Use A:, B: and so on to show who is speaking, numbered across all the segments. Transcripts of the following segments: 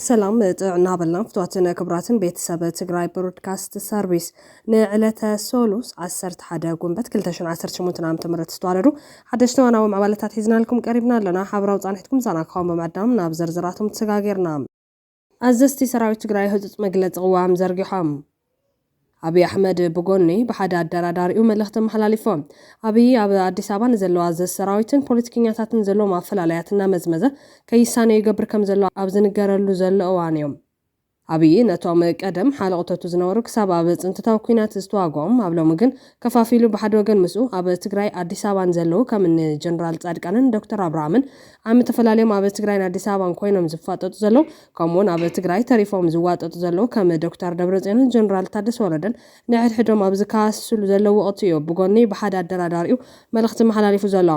A: ሰላም ጥዕና በልና ፍትዋትን ክብራትን ቤተሰብ ትግራይ ብሮድካስት ሰርቪስ ንዕለተ ሶሉስ 11 ጉንበት 218 ዓ ም ዝተዋለዱ ሓደሽቲ ዋናዊ ምዕባለታት ሒዝናልኩም ቀሪብና ኣለና ሓበራዊ ፃንሒትኩም ዛና ክኸውን ብምዕዳም ናብ ዝርዝራቶም ተሰጋጊርና ኣዘዝቲ ሰራዊት ትግራይ ህፁፅ መግለፂ ቕዋም ዘርጊሖም። ኣብይ ኣሕመድ ብጎኒ ብሓደ ኣደራዳሪኡ መልእኽቲ ኣመሓላሊፎ። ኣብይ ኣብ ኣዲስ ኣበባ ንዘለዉ ኣዘዝቲ ሰራዊትን ፖለቲከኛታትን ዘለዎም ኣፈላላያት እናመዝመዘ ከይሳነዩ ይገብር ከምዘሎ ኣብ ዝንገረሉ ዘሎ እዋን እዩ። ኣብይ ነቶም ቀደም ሓለቕቶቱ ዝነበሩ ክሳብ ኣብ ፅንተታዊ ኲናት ዝተዋግኦም ኣብ ሎሚ ግን ከፋፊሉ ብሓደ ወገን ምስኡ ኣብ ትግራይ ኣዲስ ኣበባ ንዘለዉ ከም እኒ ጀነራል ፃድቃንን ዶክተር ኣብርሃምን ዓሚ ተፈላልዮም ኣብ ትግራይን ኣዲስ ኣበባን ኮይኖም ዝፋጠጡ ዘለዉ ከምኡ ውን ኣብ ትግራይ ተሪፎም ዝዋጠጡ ዘለዉ ከም ዶክተር ደብረፅዮንን ጀነራል ታደሰ ወረደን ንሕድሕዶም ኣብ ዝከሃሰስሉ ዘለዉ ወቕቲ ዩ ብጎኒ ብሓደ ኣደራዳሪኡ መልእኽቲ መሓላሊፉ ዘሎ።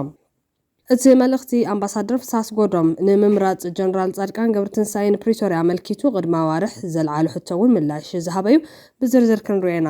A: እቲ መልእኽቲ ኣምባሳደር ፍስሃ ኣስጎዶም ንምምራፅ ጀነራል ፃድቃን ገብረትንሳኤ ንፕሪቶርያ ኣመልኪቱ ቕድሚ ኣዋርሕ ዘልዓሎ ሕቶ ውን ምላሽ ዝሃበ ዩ። ብዝርዝር ክንሪኦ ኢና።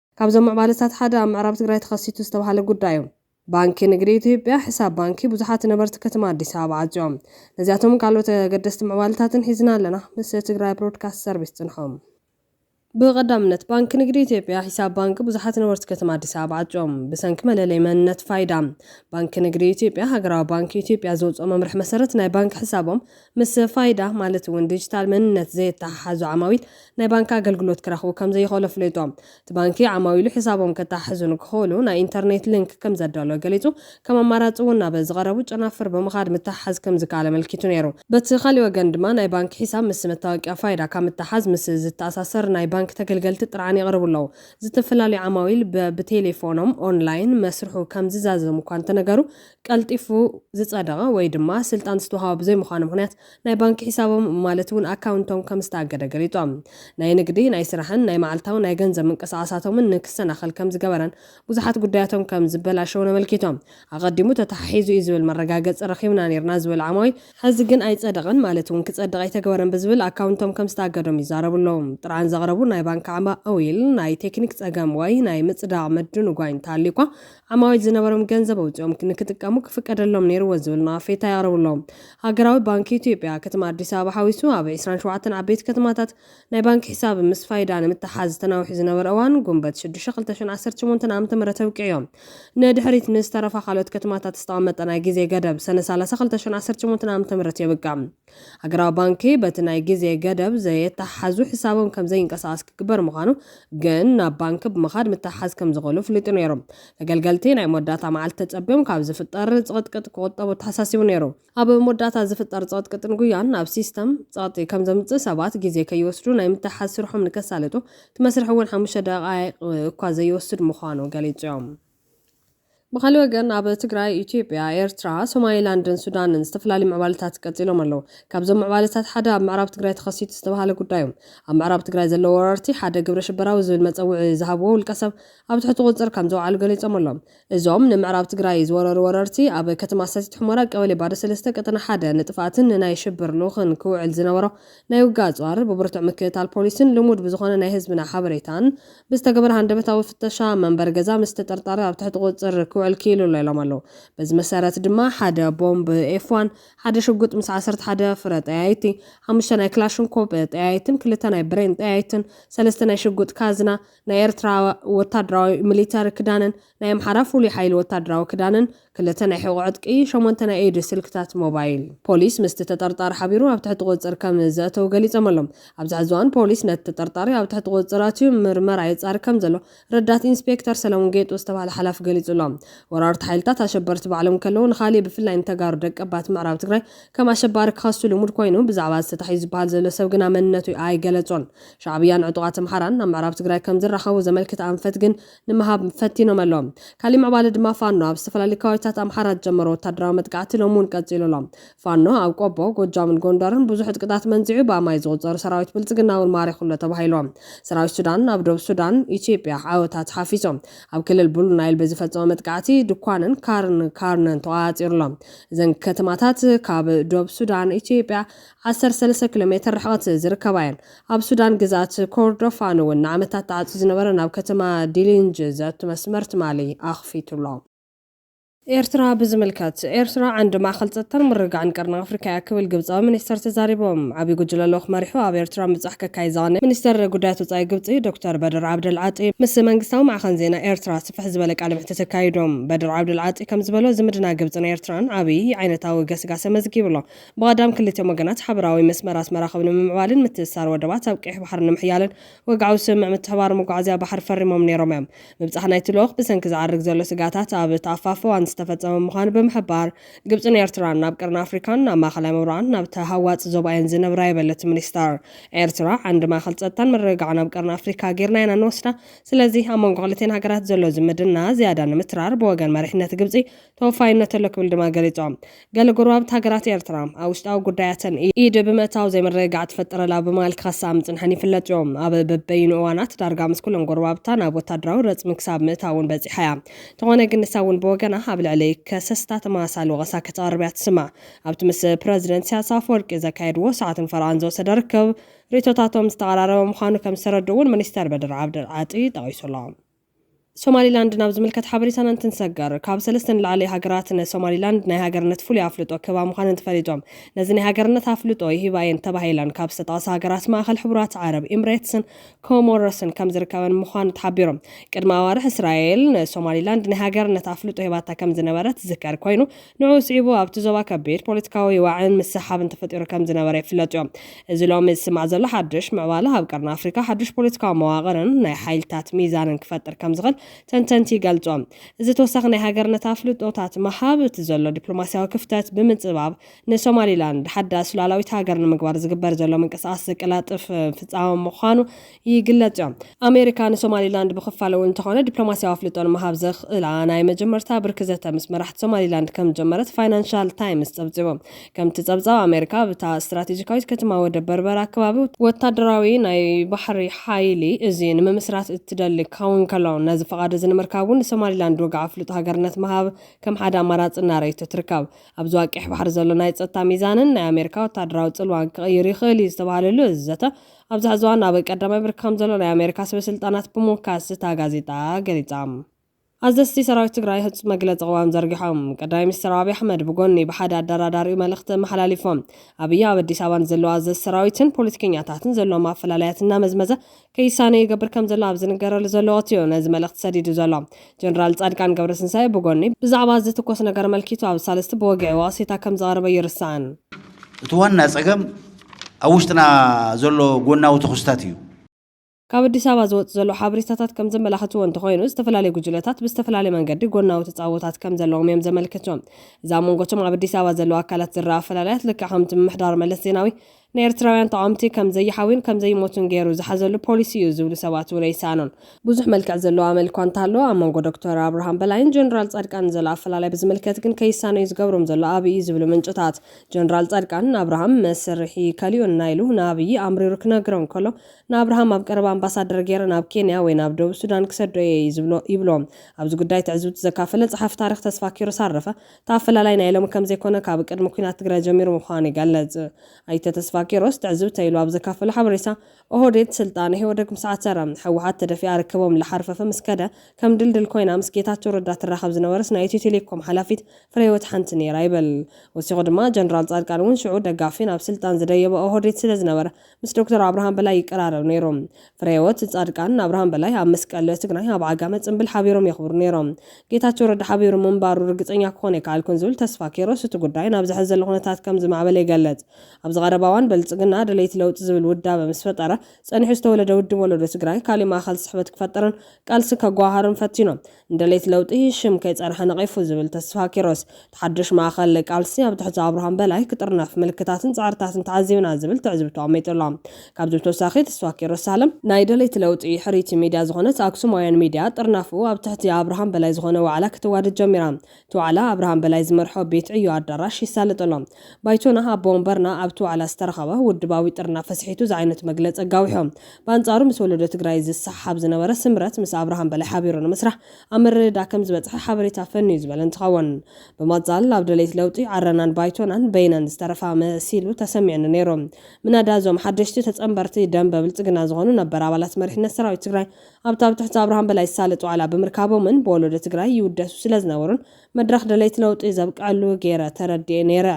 A: ካብዞም ምዕባለታት ሓደ ኣብ ምዕራብ ትግራይ ተኸሲቱ ዝተብሃለ ጉዳይ እዩ። ባንኪ ንግዲ ኢትዮጵያ ሕሳብ ባንኪ ብዙሓት ነበርቲ ከተማ ኣዲስ ኣበባ ዓፅዮም። ነዚኣቶምን ካልኦት ኣገደስቲ ምዕባለታትን ሒዝና ኣለና ምስ ትግራይ ብሮድካስት ሰርቪስ ፅንሑ። ብቐዳምነት ባንኪ ንግዲ ኢትዮጵያ ሒሳብ ባንኪ ብዙሓት ነበርቲ ከተማ ኣዲስ ኣበባ ዓፅዮም። ብሰንኪ መለለይ መንነት ፋይዳ ባንኪ ንግዲ ኢትዮጵያ ሃገራዊ ባንኪ ኢትዮጵያ ዘውፅኦ መምርሒ መሰረት ናይ ባንኪ ሕሳቦም ምስ ፋይዳ ማለት እውን ዲጂታል መንነት ዘየተሓሓዙ ዓማዊል ናይ ባንኪ ኣገልግሎት ክረኽቡ ከም ዘይኽእሉ ኣፍሊጡ። እቲ ባንኪ ዓማዊሉ ሕሳቦም ከተሓሕዙ ንክኽእሉ ናይ ኢንተርኔት ሊንክ ከም ዘዳለወ ገሊጹ፣ ከም ኣማራጺ እውን ናብ ዝቐረቡ ጨናፍር ብምኻድ ምትሕሓዝ ከም ዝከኣል ኣመልኪቱ ነይሩ። በቲ ካሊእ ወገን ድማ ናይ ባንኪ ሒሳብ ምስ መታወቂያ ፋይዳ ካብ ምትሓዝ ምስ ዝተኣሳሰር ናይ ባንኪ ተገልገልቲ ጥርዓን የቕርቡ ኣለዉ። ዝተፈላለዩ ዓማዊል በብቴሌፎኖም፣ ኦንላይን፣ መስርሑ ከም ዝዛዘም እኳ እንተነገሩ ቀልጢፉ ዝጸደቐ ወይ ድማ ስልጣን ዝተውሃቦ ብዘይምዃኑ ምኽንያት ናይ ባንኪ ሒሳቦም ማለት እውን ኣካውንቶም ከም ዝተኣገደ ገሊፆም። ናይ ንግዲ፣ ናይ ስራሕን ናይ መዓልታዊ ናይ ገንዘብ ምንቅስቓሳቶምን ንክሰናኸል ከም ዝገበረን ብዙሓት ጉዳያቶም ከም ዝበላሸዉን ኣመልኪቶም። ኣቐዲሙ ተተሓሒዙ እዩ ዝብል መረጋገፂ ረኺብና ነይርና ዝበሉ ዓማዊል፣ ሕዚ ግን ኣይፀደቐን ማለት እውን ክፀድቕ ኣይተገበረን ብዝብል ኣካውንቶም ከም ዝተኣገዶም ይዛረቡ ኣለዉ። ጥርዓን ዘቕረቡ ናይ ባንኪ ዓማዊል ናይ ቴክኒክ ፀገም ወይ ናይ ምፅዳቕ ምድንጓይ እንተሃልዩ'ኳ ኣማዊት ዝነበሮም ገንዘብ ኣውፂኦም ንክጥቀሙ ክፍቀደሎም ነይርዎ ዝብል ነቐፌታ የቕርቡ ኣለዉ። ሃገራዊ ባንኪ ኢትዮጵያ ከተማ ኣዲስ ኣበባ ሓዊሱ ኣብ ዕስራን ሸውዓተን ዓበይቲ ከተማታት ናይ ባንኪ ሒሳብ ምስ ፋይዳ ንምትሕሓዝ ተናዊሑ ዝነበረ እዋን ጉንበት ሽዱሽተ ክልተ ሽሕን ዓሰርተ ሸሞንተን ዓመተ ምህረት ኣብቂዑ ንድሕሪት ንዝተረፋ ካልኦት ከተማታት ዝተቐመጠ ናይ ግዜ ገደብ ሰነ ሰላሳ ክልተ ሽሕን ዓሰርተ ሸሞንተን ዓመተ ምህረት የብቅዕ። ሃገራዊ ባንኪ በቲ ናይ ግዜ ገደብ ዘየተሓሓዙ ሕሳቦም ከም ዘይንቀሳቐስ ክግበር ምዃኑ ግን ናብ ባንኪ ብምኻድ ምትሕሓዝ ከም ዝኽእሉ ፍሊጡ ነይሩ። ተገልገልቲ ናይ መወዳእታ መዓልቲ ተጸብዮም ካብ ዝፍጠር ጽቕጥቅጥ ክቑጠቡ ኣተሓሳሲቡ ነይሩ። ኣብ መወዳእታ ዝፍጠር ጽቕጥቅጥን ጉያን ናብ ሲስተም ጸቕጢ ከም ዘምጽእ ሰባት ግዜ ከይወስዱ ናይ ምትሕሓዝ ስርሖም ንከሳልጡ እቲ መስርሕ እውን ሓሙሽተ ደቓይቕ እኳ ዘይወስድ ምዃኑ ገሊጹ። ብኻልእ ወገን ኣብ ትግራይ፣ ኢትዮጵያ፣ ኤርትራ፣ ሶማሊላንድን ሱዳንን ዝተፈላለዩ ምዕባለታት ቀፂሎም ኣለው። ካብዞም ምዕባለታት ሓደ ኣብ ምዕራብ ትግራይ ተኸሲቱ ዝተብሃለ ጉዳይ ዩ። ኣብ ምዕራብ ትግራይ ዘለው ወረርቲ ሓደ ግብረ ሽበራዊ ዝብል መፀውዒ ዝሃብዎ ውልቀሰብ ኣብ ትሕቲ ቁፅፅር ከምዘውዓሉ ገሊፆም ኣለው። እዞም ንምዕራብ ትግራይ ዝወረሩ ወረርቲ ኣብ ከተማ ሰቲት ሑመራ ቀበሌ ባዶ ሰለስተ ቀጠና ሓደ ንጥፍኣትን ንናይ ሽብር ልኡኽን ክውዕል ዝነበሮ ናይ ውግእ ኣጽዋር፣ ብብርቱዕ ምክእታል ፖሊስን ልሙድ ብዝኾነ ናይ ህዝብና ሓበሬታን ብዝተገበረ ሃንደበታዊ ፍተሻ፣ መንበሪ ገዛ ምስ ተጠርጣሪ ኣብ ትሕቲ ቁጽጽር ክውዕል ክኢሉ ኣሎ ኢሎም ኣለው። በዚ መሰረት ድማ ሓደ ቦምብ ኤፍ ዋን፣ ሓደ ሽጉጥ ምስ ዓሰርተ ሓደ ፍረ ጠያይቲ፣ ሓሙሽተ ናይ ክላሽንኮፕ ጠያይትን ክልተ ናይ ብሬን ጠያይትን፣ ሰለስተ ናይ ሽጉጥ ካዝና፣ ናይ ኤርትራ ወታደራዊ፣ ሚሊተሪ፣ ክዳንን፣ ናይ ኣምሓራ ፍሉይ ሓይሊ ወታደራዊ ክዳንን ክልተ ናይ ሕቖ ዕጥቂ፣ ሸሞንተ ናይ ኢድ ስልክታት ሞባይል። ፖሊስ ምስቲ ተጠርጣሪ ሓቢሩ ኣብ ትሕቲ ቁፅፅር ከም ዘእተዉ ገሊፆም ኣለው። ኣብዚ ሕዚ እዋን ፖሊስ ነቲ ተጠርጣሪ ኣብ ትሕቲ ቁፅፅር ኣትዩ ምርመራ የፃሪ ከም ዘሎ ረዳት ኢንስፔክተር ሰለሙን ጌጡ ዝተብሃለ ሓላፊ ገሊፁ ኣሎ። ወራርቲ ሓይልታት ኣሸበርቲ ባዕሎም እንከለው ንኻሊእ ብፍላይ ንተጋሩ ደቀባት ምዕራብ ትግራይ ከም ኣሸባሪ ክኸሱ ልሙድ ኮይኑ ብዛዕባ እዚ ተታሒዙ ዝበሃል ዘሎ ሰብ ግና መንነቱ ኣይገለፆን። ሻዕብያን ዕጡቓት ኣምሓራን ናብ ምዕራብ ትግራይ ከም ዝራኸቡ ዘመልክት ኣንፈት ግን ንምሃብ ፈቲኖም ኣለው። ካሊእ ምዕባለ ድማ ፋኖ ኣብ ዝተፈላለዩ ከባቢታት ኣምሓራ ዝጀመሮ ወታደራዊ መጥቃዕቲ ሎሚ እውን ቀፂሉ ኣሎ። ፋኖ ኣብ ቆቦ፣ ጎጃምን ጎንደርን ብዙሕ ዕጥቅታት መንዚዑ ብኣማኢት ዝቑፀሩ ሰራዊት ብልፅግና እውን ማሪኹ ኣሎ ተባሂሉ። ሰራዊት ሱዳን ኣብ ዶብ ሱዳን፣ ኢትዮጵያ፣ ዓወታት ሓፊፁ። ኣብ ክልል ብሉ ናይል ብዝፈፀሞ መጥቃዕቲ ድኳንን ካርን ካርነን ተቖፃፂሩ ኣሎ። እዘን ከተማታት ካብ ዶብ ሱዳን፣ ኢትዮጵያ፣ ዓሰርተ ሰለስተ ኪሎ ሜትር ርሕቐት ዝርከባ እየን። ኣብ ሱዳን ግዝኣት ኮርዶፋን እውን ንዓመታት ተዓጽዩ ዝነበረ ናብ ከተማ ዲሊንጅ ዘእቱ መስመር ትማሊ ኣኽፊቱ'ሎ። ኤርትራ ብዝምልከት፣ ኤርትራ ዓንዲ ማእከል ጸጥታን ምርግጋዕን ቀርኒ ኣፍሪካ እያ ክብል ግብጻዊ ሚኒስተር ተዛሪቦም። ዓብይ ጉጅለ ልኡኽ መሪሑ ኣብ ኤርትራ ምብጻሕ ከካይድ ዝቐነየ ሚኒስተር ጉዳያት ወጻኢ ግብጺ ዶክተር በድር ዓብደል ዓጢ ምስ መንግስታዊ ማዕኸን ዜና ኤርትራ ስፍሕ ዝበለ ቃለ መሕትት ኣካይዶም። በድር ዓብደል ዓጢ ከምዝበሎ ዝምድና ግብጽን ኤርትራን ዓብይ ዓይነታዊ ገስጋሰ መዝጊቡ'ሎ። ብቐዳም ክልቲኦም ወገናት ሓበራዊ መስመራት መራኽብ ንምምዕባልን ምትእስሳር ወደባት ኣብ ቀይሕ ባሕሪ ንምሕያልን ወግዓዊ ስምምዕ ምትሕብባር መጓዓዝያ ባሕሪ ፈሪሞም ነይሮም እዮም። ምብጻሕ ናይቲ ልኡኽ ብሰንኪ ዝዓርግ ዘሎ ስግኣታት ኣብ ተኣፋፊ እዋን ዝተፈጸመ ምዃኑ ብምሕባር፣ ግብጽን ኤርትራን ናብ ቀርኒ ኣፍሪካን ናብ ማእኸላይ ምብራቕን ናብ ተሃዋጺ ዞባ እየን ዝነብራ ይበል እቲ ሚኒስተር። ኤርትራ ዓንዲ ማእኸል ጸጥታን ምርግጋዕን ኣብ ቀርኒ ኣፍሪካ ገይርና ኢና እንወስዳ። ስለዚ ኣብ መንጎ ክልቲኤን ሃገራት ዘሎ ዝምድና ዝያዳ ንምትራር ብወገን መሪሕነት ግብጺ ተወፋይነት ኣሎ ክብል ድማ ገሊጾም። ገለ ጎረባብቲ ሃገራት ኤርትራ፣ ኣብ ውሽጣዊ ጉዳያተን ኢድ ብምእታው ዘይምርግጋዕ ትፈጥር'ላ ብምባል ክኸስኣ ምጽንሐን ይፍለጥ'ዩ። ኣብ በበይኑ እዋናት ዳርጋ ምስ ኩሎም ጎረባብታ ናብ ወታደራዊ ረጽሚ ክሳብ ምእታው'ውን በጺሓ'ያ። እንተኾነ ግን ንሳ'ውን ብወገና ኣብ ልዕሊ ከሰስታ ተመሳሳሊ ወቐሳ ከተቕርብ'ያ ትስማዕ። ኣብቲ ምስ ፕረዚደንት ኢሳያስ ኣፈወርቂ ዘካየድዎ ሰዓትን ፈረቓን ዝወሰደ ርክብ፣ ርእይቶታቶም ዝተቐራረበ ምዃኑ ከም ዝተረድኡ'ውን ሚኒስተር በድር ዓብደልዓጢ ጠቒሱ'ሎ። ሶማሊላንድ ናብ ዝምልከት ሓበሬታና እንትንሰገር፣ ካብ ሰለስተ ንላዕሊ ሃገራት ንሶማሊላንድ ናይ ሃገርነት ፍሉይ ኣፍልጦ ክህባ ምዃነን ተፈሊጦም። ነዚ ናይ ሃገርነት ኣፍልጦ ይህባ እየን ተባሂለን ካብ ዝተጠቕሳ ሃገራት ማእኸል ሕቡራት ዓረብ ኢምሬትስን ኮሞሮስን ከም ዝርከበን ምዃኑ ተሓቢሩ። ቅድሚ ኣዋርሕ እስራኤል ንሶማሊላንድ ናይ ሃገርነት ኣፍልጦ ሂባታ ከም ዝነበረት ዝዝከር ኮይኑ፣ ንዕኡ ስዒቡ ኣብቲ ዞባ ከቢድ ፖለቲካዊ ዋዒን ምስሕሓብን ተፈጢሩ ከም ዝነበረ ይፍለጥዮ። እዚ ሎሚ ዝስማዕ ዘሎ ሓድሽ ምዕባለ ኣብ ቀርኒ ኣፍሪካ ሓድሽ ፖለቲካዊ መዋቕርን ናይ ሓይልታት ሚዛንን ክፈጥር ከም ዝኽእል ተንተንቲ ይገልጹ። እዚ ተወሳኺ ናይ ሃገርነት ኣፍልጦታት ምሃብ እቲ ዘሎ ዲፕሎማሲያዊ ክፍተት ብምጽባብ ንሶማሊላንድ ሓዳስ ሉኣላዊት ሃገር ንምግባር ዝግበር ዘሎ ምንቅስቓስ ዘቀላጥፍ ፍጻመ ምዃኑ ይግለጽዮ። ኣሜሪካ ንሶማሊላንድ ብክፋል እውን እንተኾነ ዲፕሎማሲያዊ ኣፍልጦ ንምሃብ ዘኽእላ ናይ መጀመርታ ብርኪ ዘተ ምስ መራሕቲ ሶማሊላንድ ከምዝጀመረት ፋይናንሻል ታይምስ ጸብጺቡ። ከምቲ ጸብጻብ ኣሜሪካ ኣብ እታ ስትራቴጂካዊት ከተማ ወደብ በርበራ ከባቢ ወታደራዊ ናይ ባሕሪ ሓይሊ እዚ ንምምስራት እትደሊ ክኸውን እንከሎ ነዚ ፍቓድ እዚ ንምርካብ እውን ንሶማሊላንድ ወግዒ ኣፍልጦ ሃገርነት ምሃብ ከም ሓደ ኣማራጺ እናረኣየቶ ትርከብ። ኣብዚ ኣብ ቀይሕ ባሕሪ ዘሎ ናይ ጸጥታ ሚዛንን ናይ ኣሜሪካ ወታደራዊ ጽልዋን ክቕይር ይኽእል እዩ ዝተባህለሉ እዚ ዘተ ኣብዚ ሐዚ እዋን ኣብ ቀዳማይ ብርኪ ከምዘሎ ናይ ኣሜሪካ ሰበስልጣናት ብምውካስ እታ ጋዜጣ ገሊፃ። ኣዘዝቲ ሰራዊት ትግራይ ህፁፅ መግለፂ ቅዋም ዘርጊሖም። ቀዳማይ ሚኒስትር ኣብይ ኣሕመድ ብጎኒ ብሓደ ኣደራዳሪኡ መልእኽቲ ኣመሓላሊፎም። ኣብይ ኣብ ኣዲስ ኣበባ ንዘለዉ ኣዘዝቲ ሰራዊትን ፖለቲከኛታትን ዘለዎም ኣፈላላያት እናመዝመዘ ከይሳነዩ ይገብር ከምዘሎ ኣብ ዝንገረሉ ዘሎ ወቕቲ እዩ ነዚ መልእኽቲ ሰዲዱ ዘሎ። ጀነራል ጻድቃን ገብረትንሳኤ ብጎኒ፣ ብዛዕባ ዝትኮስ ነገር ኣመልኪቱ ኣብ ሳልስቲ ብወግዒ ወቕሴታ ከም ዘቕረበ ኣይርሳዕን። እቲ ዋና
B: ጸገም ኣብ ውሽጥና ዘሎ ጎናዊ ተኹስታት እዩ። ካብ ኣዲስ
A: ኣበባ ዝወጽእ ዘሎ ሓበሬታታት ከም ዘመላኽትዎ እንተኾይኑ፣ ዝተፈላለዩ ጉጅለታት ብዝተፈላለየ መንገዲ ጎናዊ ተጻብኦታት ከም ዘለዎም እዮም ዘመልክቱ። እዚ ኣብ መንጎ እቶም ኣብ ኣዲስ ኣበባ ዘለዉ ኣካላት ዝረኣ ኣፈላላያት ልክዕ ከምቲ ምምሕዳር መለስ ዜናዊ ንኤርትራውያን ተቓወምቲ ከም ዘይሓውዩን ከም ዘይሞቱን ገይሩ ዝሓዘሉ ፖሊሲ እዩ ዝብሉ ሰባት'ውን ኣይሰኣኑን። ብዙሕ መልክዕ ዘለዎ ኣመል እኳ እንተሃለወ፣ ኣብ መንጎ ዶክተር ኣብርሃም በላይን ጀነራል ጻድቃንን ዘሎ ኣፈላላይ ብዝምልከት ግን ከይሳነዩ ዝገብሮም ዘሎ ኣብይ እዩ ዝብሉ ምንጭታት፣ ጀነራል ጻድቃን ንኣብርሃም መስርሒ ከሊኡና ኢሉ ንኣብይ ኣምሪሩ ክነግሮ እንከሎ፣ ንኣብርሃም ኣብ ቀረባ ኣምባሳደር ገይረ ናብ ኬንያ ወይ ናብ ደቡብ ሱዳን ክሰዶ እየ ይብሎ። ኣብዚ ጉዳይ ትዕዝብቱ ዘካፈለ ጸሓፊ ታሪኽ ተስፋኪሮስ ኣረፈ፣ እቲ ኣፈላላይ ናይ ሎሚ ከምዘይኮነ ካብ ቅድሚ ኲናት ትግራይ ጀሚሩ ምዃኑ ይገልፅ ኣይተ ተስፋኪሮስ ትዕዝብተይ ኢሉ ኣብ ዘካፈሎ ሓበሬታ። ኦህዴድ ስልጣን ኢህወደግ ምስ ዓተረ፣ ህወሓት ተደፊኣ ርክቦም ላሓርፈፈ ምስ ከደ፣ ከም ድልድል ኮይና ምስ ጌታቸው ረዳ ትራኸብ ዝነበረት ናይ ኢትዮ ቴሌኮም ሓላፊት ፍሬህይወት ሓንቲ ነይራ ይብል። ወሲኹ ድማ ጀነራል ፃድቃን እውን ሽዑ ደጋፊ ናብ ስልጣን ዝደየበ ኦህዴድ ስለዝነበረ፣ ምስ ዶክተር ኣብርሃም በላይ ይቀራረብ ነይሩ። ፍረህይወት ፃድቃን ንኣብርሃም በላይ ኣብ መስቀል ትግራይ ኣብ ዓጋመ ፅምብል ሓቢሮም የኽብሩ ነይሮም። ጌታቸው ረዳ ሓቢሩ ምንባሩ ርግፀኛ ክኾን ኣይከኣልኩን ዝብል ተስፋ ኪሮስ እቲ ጉዳይ ናብዚ ሐዚ ዘሎ ኩነታት ከምዝማዕበለ ይገልፅ። ኣብዚ ቀረባ እዋን ብልፅግና ደለይቲ ለውጢ ዝብል ውዳበ ምስ ፈጠረ ፀኒሑ ዝተወለደ ውድብ ወለዶ ትግራይ ካሊእ ማእኸል ስሕበት ክፈጥርን ቃልሲ ከጓሃሃርን ፈቲኖም። ንደለይቲ ለውጢ ሽም ከይጸንሐ ነቒፉ ዝብል ተስፋ ኪሮስ፣ እቲ ሓድሽ ማእከል ቃልሲ ኣብ ትሕቲ ኣብርሃም በላይ ክጥርነፍ ምልክታትን ጸዕርታትን ተዓዚብና ዝብል ትዕዝብቱ ኣቕሚጡ ኣሎ። ካብዚ ብተወሳኺ ተስፋ ኪሮስ ሳልም፣ ናይ ደለይቲ ለውጢ ሕርይቲ ሚድያ ዝኾነት ኣክሱማውያን ሚድያ ጥርናፈኡ ኣብ ትሕቲ ኣብርሃም በላይ ዝኾነ ዋዕላ ከተዋድድ ጀሚራ እቲ ዋዕላ ኣብርሃም በላይ ዝመርሖ ቤት ዕዮ ኣዳራሽ ይሳለጥ ኣሎ። ባይቶና ኣቦ ወንበርና ኣብቲ ዋዕላ ዝተረኸበ ውድባዊ ጥርናፈ ስሒቱ ዝዓይነቱ መግለፂ ኣጋዊሑ። ብኣንፃሩ ምስ ወለዶ ትግራይ ዝሰሓሓብ ዝነበረ ስምረት ምስ ኣብርሃም በላይ ሓቢሩ ንምስራሕ ኣብ ምርድዳእ ከምዝበፅሐ ሓበሬታ ፈንዩ ዝበለ እንትኸውን ብምቕፃል ኣብ ደለይቲ ለውጢ ዓረናን ባይቶናን በይነን ዝተረፋ መሲሉ ተሰሚዑኒ ነይሩ። ምናዳ እዞም ሓደሽቲ ተፀንበርቲ ደምበ ብልፅግና ዝኾኑ ነበር ኣባላት መሪሕነት ሰራዊት ትግራይ ኣብታ ኣብ ትሕቲ ኣብርሃም በላይ ዝሳለጥ ዋዕላ ብምርካቦምን ብወለዶ ትግራይ ይውደሱ ስለዝነበሩን መድረኽ ደለይቲ ለውጢ ዘብቀዐሉ ገይረ ተረዲኤ ነይረ።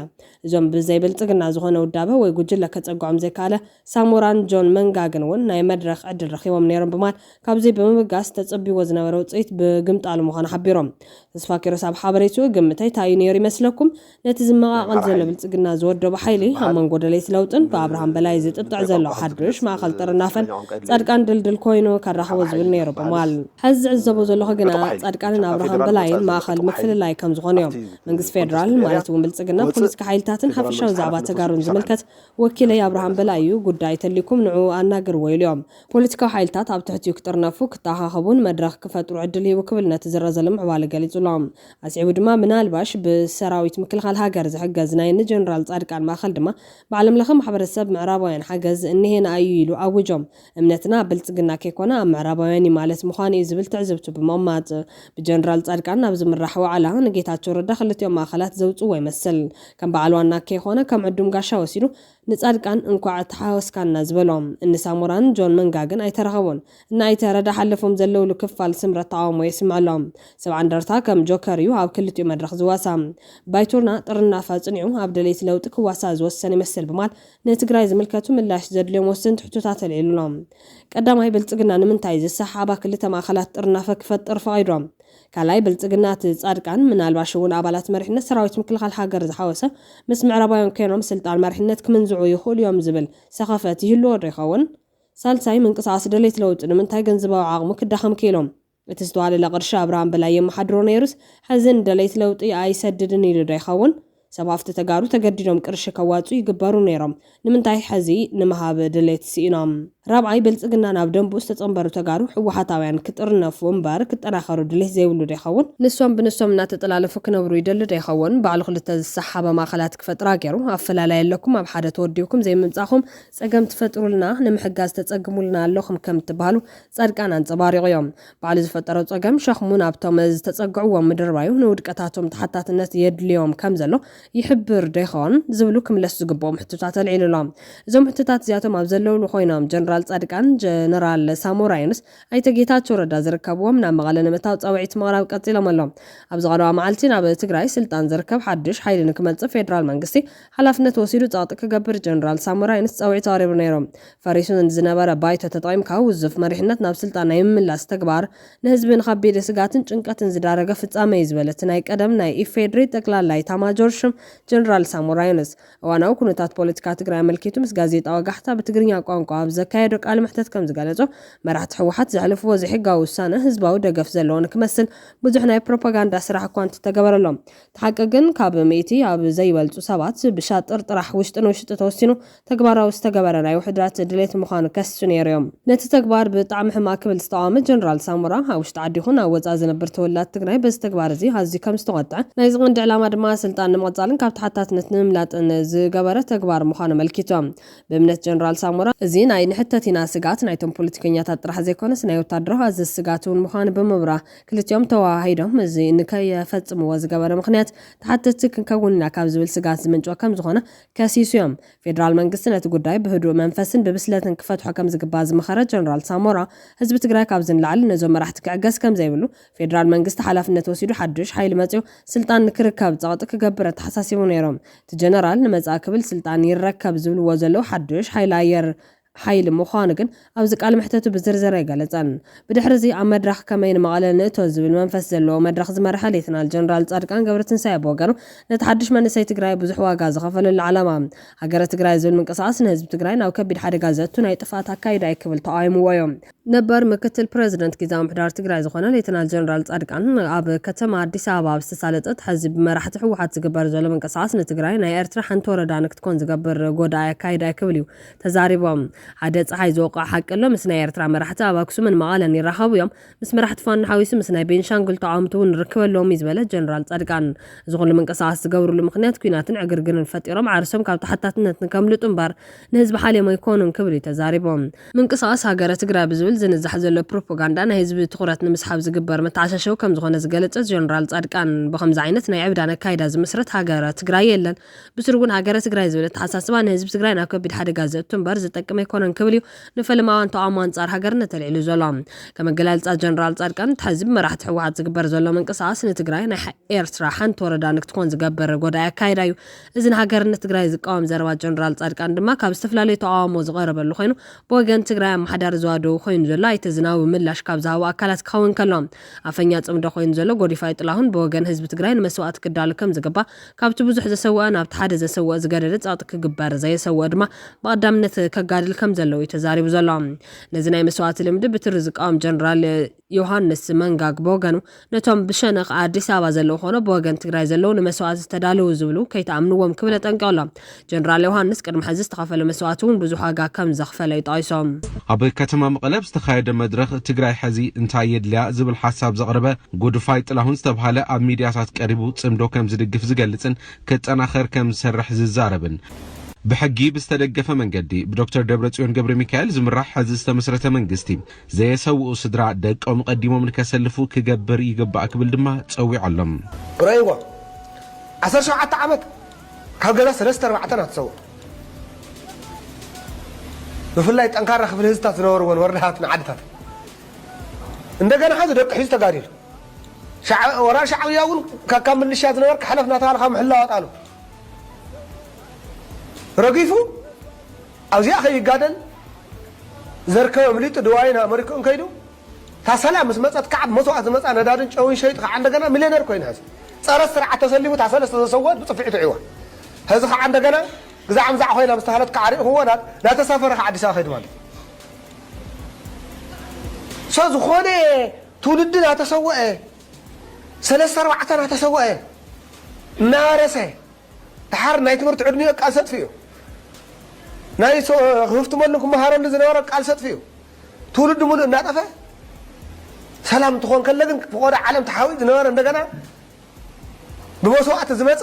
A: እዞም ብዘይ ብልፅግና ዝኾነ ውዳበ ወይ ጉጅለ ከፀግዖም ዘይከኣለ ሳሞራን ጆን መንጋግን እውን ናይ መድረኽ ዕድል ረኺቦም ነይሮም ብማል ካብዙይ ብምብጋስ ተፅብይዎ ዝነበረ ውፅኢት ብግምጣሉ ምዃኑ ሓቢሮም። ተስፋኪሮስ ኣብ ሓበሬትኡ ግምተይ ታይ እዩ ነይሩ ይመስለኩም? ነቲ ዝመቓቐል ዘሎ ብልጽግና ዝወደቦ ሓይሊ፣ ኣብ መንጎ ደለይቲ ለውጥን ብኣብርሃም በላይ ዝጥጥዕ ዘሎ ሓዱሽ ማእከል ጥርናፈን ጻድቃን ድልድል ኮይኑ ከራኽቦ ዝብል ነይሩ ብምባል። ሐዚ ዝዕዘቦ ዘለኹ ግና ጻድቃንን ኣብርሃም በላይን ማእኸል ምፍልላይ ከም ዝኾኑ እዮም። መንግስቲ ፌደራል ማለት እውን ብልጽግና ፖለቲካ ሓይልታትን ሓፈሻዊ ዛዕባ ተጋሩን ዝምልከት ወኪለይ ኣብርሃም በላይ እዩ፣ ጉዳይ ተልዩኩም ንዕኡ ኣናግርዎ ኢሉ እዮም። ፖለቲካዊ ሓይልታት ኣብ ትሕቲኡ ክጥርነፉ፣ ክተኣኻኸቡን መድረኽ ክፈጥሩ ዕድል ሂቡ ክብል ነቲ ዝረዘ ልምዕባለ ገሊጹሎም። ኣስዒቡ ድማ ምናልባሽ ብሰራዊት ምክልኻል ሃገር ዝሕገዝ ናይ ንጀነራል ጻድቃን ማእኸል ድማ ብዓለም ለኸ ማሕበረሰብ ምዕራባውያን ሓገዝ እነሄና እዩ ኢሉ ኣውጆም እምነትና ኣብ ብልጽግና ከይኮነ ኣብ ምዕራባውያን እዩ ማለት ምዃኑ እዩ ዝብል ትዕዝብቱ ብምቕማጥ ብጀነራል ጻድቃን ናብ ዝምራሕ ዋዕላ ንጌታቸው ረዳ ክልቲኦም ማእኸላት ዘውጽዎ ይመስል ከም በዓል ዋና ከይኾነ ከም ዕዱም ጋሻ ወሲዱ ንጻድቃን እንኳዕ ተሓወስካና ዝበሎም እኒ ሳሞራን ጆን መንጋ ግን ኣይተረኸቡን። እኒ ኣይተ ረዳ ሓለፎም ዘለውሉ ክፋል ስምረት ተቓውሞ የስምዕ ኣሎ። ሰብዓ እንደርታ ከም ጆከር እዩ ኣብ ክልቲኡ መድረኽ ዝዋሳ። ባይቶና ጥርናፈ ኣጽኒዑ ኣብ ደለይቲ ለውጢ ክዋሳእ ዝወሰነ ይመስል ብማል ንትግራይ ዝምልከቱ ምላሽ ዘድልዮም ወሰንቲ ሕቶታት ኣልዒሉ ኣሎ። ቀዳማይ ብልጽግና ንምንታይ ዝሰሓሓባ ክልተ ማእኸላት ጥርናፈ ክፈጥር ፈቒዱ? ካልኣይ ብልፅግና እቲ ፃድቃን ምናልባሽ እውን ኣባላት መሪሕነት ሰራዊት ምክልኻል ሃገር ዝሓወሰ ምስ ምዕራባውያን ኮይኖም ስልጣን መሪሕነት ክምንዝዑ ይኽእሉ እዮም ዝብል ሰኸፈት ይህልዎ ዶ ይኸውን? ሳልሳይ ምንቅስቓስ ደለይቲ ለውጢ ንምንታይ ገንዘባዊ ዓቕሙ ክዳኸም ክኢሉ? እቲ ዝተዋደደ ቅርሺ ኣብርሃም በላይ የመሓድሮ ነይሩስ ሐዚ ንደለይቲ ለውጢ ኣይሰድድን ኢሉ ዶ ይኸውን? ሰብ ሃፍቲ ተጋሩ ተገዲዶም ቅርሺ ከዋፅኡ ይግበሩ ነይሮም ንምንታይ ሐዚ ንምሃብ ድሌት ሲኢኖም። ራብዓይ ብልፅግና ናብ ደንብኡ ዝተፀምበሩ ተጋሩ ህወሓታውያን ክጥርነፉ እምበር ክጠናኸሩ ድሌት ዘይብሉ ዶ ይኸውን? ንሶም ብንሶም እናተጠላለፉ ክነብሩ ይደሊ ዶ ይኸውን? ባዕሉ ክልተ ዝሰሓባ ማእኸላት ክፈጥራ ገይሩ ኣፈላላይ ኣለኩም ኣብ ሓደ ተወዲብኩም ዘይምምፃእኹም ፀገም ትፈጥሩልና ንምሕጋዝ ተፀግሙልና ኣለኹም ከምትበሃሉ ፃድቃን ኣንፀባሪቑ እዮም። በዓል ዝፈጠሮ ጸገም ሸኽሙ ናብቶም ዝተጸግዕዎ ምድርባዩ ንውድቀታቶም ተሓታትነት የድልዮም ከም ዘሎ ይሕብር ዶ ይኸውን? ዝብሉ ክምለሱ ዝግብኦም ሕቶታት ኣልዒሉ ኣሎ። እዞም ሕቶታት እዚኣቶም ኣብ ዘለውሉ ኮይኖም ጀነራል ጻድቃን፣ ጀነራል ሳሞራ የኑስ፣ ኣይተ ጌታቸው ረዳ ዝርከብዎም ናብ መቐለ ንምእታው ጻውዒት ምቕራብ ቀጺሎም ኣለው። ኣብዚ ቀረባ መዓልቲ ናብ ትግራይ ስልጣን ዝርከብ ሓድሽ ሓይሊ ንክመጽእ ፌደራል መንግስቲ ሓላፍነት ወሲዱ ጸቕጢ ክገብር ጀነራል ሳሞራ ዩኑስ ጸውዒት ኣቕሪቡ ነይሩ። ፈሪሱ ንዝነበረ ባይቶ ተጠቒምካ ውዙፍ መሪሕነት ናብ ስልጣን ናይ ምምላስ ተግባር ንህዝቢ ንኸቢድ ስግኣትን ጭንቀትን ዝዳረገ ፍጻመ እዩ ዝበለ እቲ ናይ ቀደም ናይ ኢፌድሪ ጠቅላላ ኢታማጆር ሹም ጀነራል ሳሞራ ዩኑስ እዋናዊ ኩነታት ፖለቲካ ትግራይ ኣመልኪቱ ምስ ጋዜጣ ወጋሕታ ብትግርኛ ቋንቋ ኣብ ዘካየዶ ቃለ መሕተት ከምዝገለጾ መራሕቲ ህወሓት ዘሕልፍዎ ዘይሕጋዊ ውሳነ ህዝባዊ ደገፍ ዘለዎ ንክመስል ብዙሕ ናይ ፕሮፓጋንዳ ስራሕ እኳ እንተተገበረሎም እቲ ሓቂ ግን ካብ ሚእቲ ኣብ ዘይበልጹ ሰባት ብሻጥር ጥራሕ ውሽጢ ንውሽጢ ተወሲኑ ተግባራዊ ዝተገበረ ናይ ውሕድራት ድሌት ምዃኑ ከስሱ ነይሩ እዮም። ነቲ ተግባር ብጣዕሚ ሕማቅ ክብል ዝተቃወመ ጀነራል ሳሞራ ኣብ ውሽጢ ዓዲ ይኹን ኣብ ወጻኢ ዝነብር ተወላዲ ትግራይ በዚ ተግባር እዚ ኣዝዩ ከም ዝተቆጥዐ ናይዚ ቀንዲ ዕላማ ድማ ስልጣን ንምቅጻልን ካብ ተሓታትነት ንምምላጥን ዝገበረ ተግባር ምዃኑ ኣመልኪቱ ብእምነት ጀነራል ሳሞራ እዚ ናይ ንሕተት ኢና ስግኣት ናይቶም ፖለቲከኛታት ጥራሕ ዘይኮነስ ናይ ወታደራዊ ኣዘዝ ስግኣት እውን ምዃኑ ብምብራህ ክልቲኦም ተወሃሂዶም እዚ ንከይፈፅምዎ ዝገበረ ምኽንያት ተሓተትቲ ክንከውን ኢና ካብ ዝብል ስግኣት ዝምንጨወ ከምዝኾነ ከሲሱ ዮም። ፌዴራል መንግስቲ ነቲ ጉዳይ ብህዱእ መንፈስን ብብስለትን ክፈትሖ ከምዝግባእ ዝመኸረ ጀነራል ሳሞራ፣ ህዝቢ ትግራይ ካብዚ ንላዕሊ ነዞም መራሕቲ ክዕገስ ከምዘይብሉ ፌዴራል መንግስቲ ሓላፍነት ወሲዱ ሓዱሽ ሓይሊ መፂኡ ስልጣን ንክርከብ ፀቕጢ ክገብር ኣተሓሳሲቡ ነይሩ። እቲ ጀነራል ንመፃኢ ክብል ስልጣን ይረከብ ዝብልዎ ዘለዉ ሓዱሽ ሓይሊ ኣየር ሓይሊ ምዃኑ ግን ኣብዚ ቃል መሕተቱ ብዝርዝር ኣይገለጸን። ብድሕሪ እዚ ኣብ መድረኽ ከመይ ንመቐለ ንእቶ ዝብል መንፈስ ዘለዎ መድረኽ ዝመርሐ ሌተናል ጀነራል ጻድቃን ገብረትንሳኤ ብወገኑ ነቲ ሓድሽ መንእሰይ ትግራይ ብዙሕ ዋጋ ዝኸፈለሉ ዓላማ ሃገረ ትግራይ ዝብል ምንቅስቓስ ንህዝቢ ትግራይ ናብ ከቢድ ሓደጋ ዘእቱ ናይ ጥፍኣት ኣካይዳ እዩ ክብል ተቓዊምዎ እዩ። ነበር ምክትል ፕረዚደንት ጊዝያዊ ምምሕዳር ትግራይ ዝኾነ ሌተናል ጀነራል ጻድቃን ኣብ ከተማ ኣዲስ ኣበባ ኣብ ዝተሳለጠት ሐዚ ብመራሕቲ ህወሓት ዝግበር ዘሎ ምንቅስቓስ ንትግራይ ናይ ኤርትራ ሓንቲ ወረዳ ንክትኮን ዝገብር ጎዳኢ ኣካይዳ እዩ ክብል እዩ ተዛሪቦም። ሓደ ጸሓይ ዝወቅዖ ሓቂ ኣሎ፣ ምስ ናይ ኤርትራ መራሕቲ ኣብ ኣክሱምን መቐለን ይራኸቡ እዮም፣ ምስ መራሕቲ ፋኖ ሓዊሱ ምስ ናይ ቤንሻንጉል ተቓወምቲ እውን ርክብ ኣለዎም እዩ ዝበለ ጀነራል ጻድቃን፣ እዚ ኩሉ ምንቅስቓስ ዝገብርሉ ምኽንያት ኲናትን ዕግርግርን ፈጢሮም ዓርሶም ካብ ተሓታትነት ንከምልጡ እምበር ንህዝቢ ሓልዮም ኣይኮኑን ክብል እዩ ተዛሪቡ። ምንቅስቓስ ሃገረ ትግራይ ብዝብል ዝንዛሕ ዘሎ ፕሮፖጋንዳ ናይ ህዝቢ ትኹረት ንምስሓብ ዝግበር መተዓሻሸዊ ከምዝኾነ ዝገለጸ ጀነራል ጻድቃን፣ ብኸምዚ ዓይነት ናይ ዕብዳን ኣካይዳ ዝምስረት ሃገረ ትግራይ የለን፣ ብስሩ እውን ሃገረ ትግራይ ዝብል ኣተሓሳስባ ንህዝቢ ትግራይ ናብ ከቢድ ሓደጋ ዘእቱ እምበር ዝጠቅም ኣይኮነን ክብል እዩ ንፈለማውያን ተቓውሞ ኣንጻር ሃገርነት ተልዒሉ ዘሎ። ከም ኣገላልጻ ጀነራል ጻድቃን እቲ ሕዚ ብመራሕቲ ህወሓት ዝግበር ዘሎ ምንቅስቓስ ንትግራይ ናይ ኤርትራ ሓንቲ ወረዳ ንክትኮን ዝገብር ጎዳኢ ኣካይዳ እዩ። እዚ ንሃገርነት ትግራይ ዝቃወም ዘረባ ጀነራል ጻድቃን ድማ ካብ ዝተፈላለዩ ተቓውሞ ዝቐረበሉ ኮይኑ ብወገን ትግራይ ኣመሓዳሪ ዞባ ደቡብ ኮይኑ ዘሎ ኣይተ ዝናቡ ምላሽ ካብ ዝሃቡ ኣካላት ክኸውን ከሎ ኣፈኛ ጽምዶ ኮይኑ ዘሎ ጎዲፋይ ጥላሁን ብወገን ህዝቢ ትግራይ ንመስዋእቲ ክዳሎ ከምዝግባእ ካብቲ ብዙሕ ዘሰወኣ ናብቲ ሓደ ዘሰወእ ዝገደደ ጸቕጢ ክግበር፣ ዘየሰወእ ድማ ብቐዳምነት ከጋድል ከም ዘለዎ እዩ ተዛሪቡ ዘሎ። ነዚ ናይ መስዋእቲ ልምዲ ብትሪ ዝቃወም ጀነራል ዮሃንስ መንጋግ ብወገኑ፣ ነቶም ብሸነኽ ኣዲስ ኣበባ ዘለዉ ኮነ ብወገን ትግራይ ዘለዉ ንመስዋእቲ ዝተዳለዉ ዝብሉ ከይትኣምንዎም ክብል ኣጠንቂቑ ኣሎ። ጀነራል ዮሃንስ ቅድሚ ሕዚ ዝተኸፈለ መስዋእቲ እውን ብዙሕ ዋጋ ከም ዘኽፈለ እዩ ጠቒሶም። ኣብ ከተማ
C: መቐለ ኣብ ዝተኻየደ መድረኽ ትግራይ ሐዚ እንታይ የድልያ ዝብል ሓሳብ ዘቕረበ ጉድፋይ ጥላሁን ዝተብሃለ ኣብ ሚድያታት ቀሪቡ ፅምዶ ከም ዝድግፍ ዝገልፅን ክጠናኸር ከም ዝሰርሕ ዝዛረብን ብሕጊ ብዝተደገፈ መንገዲ ብዶክተር ደብረፅዮን ገብረሚካኤል ዝምራሕ ሐዚ ዝተመስረተ መንግስቲ ዘየሰውኡ ስድራ ደቆም ቐዲሞም ንከሰልፉ ክገብር ይግባእ ክብል ድማ ፀዊዑ ኣሎ። ርኣይዋ
D: ዓሰርተ ሸውዓተ ዓመት ካብ ገዛ ሰለስተ ኣርባዕተ ናት ሰውእ ብፍላይ ጠንካራ ክፍሊ ህዝብታት ዝነበርወን ወረዳታትን ዓድታትን እንደገና ሐዚ ደቂ ሒዙ ተጋዲሉ ሻዕ ወራር ሻዕብያ እውን ካካብ ምልሻ ዝነበርካ ሕለፍ እናተባህለ ካብ ምሕላው ኣጣሉ ረጊፉ ኣብዚኣ ከይጋደል ዘርከበ ምሊጡ ድዋይን ኣመሪክኡን ከይዱ እታ ሰለ ምስ መጸት ከኣ ብ መስዋእቲ ዝመጻ ነዳድን ጨውን ሸይጡ ከኣ እንደገና ሚልዮነር ኮይኑ ሀዚ ጸረ ስርዓት ተሰሊፉ እታ ሰለ ዝተሰወእት ብጽፍዒት ውዒዋ ሀዚ ከኣ እንደገና ግዛዕ ምዛዕ ኮይና ምስ ተሃለት ከኣ ሪእክዎ ናተሳፈረ ከኣ ኣዲስ ኣበባ ከይዱ ማለት እዩ ሶ ዝኾነ ትውልዲ ናተሰወኤ ሰለስተ ኣርባዕተ ናተሰወኤ ናረሰ ድሓር ናይ ትምህርቲ ዕድሚኡ ቃልሲ ኣጥፊኡ ናይ ክህፍትመሉ ክመሃረሉ ዝነበረ ቃልሲ ኣጥፊኡ ትውልዲ ሙሉእ እናጠፈ ሰላም እንትኾን ከለ ግን ፍቆዶ ዓለም ተሓዊኡ ዝነበረ እንደገና ብመስዋእቲ ዝመፀ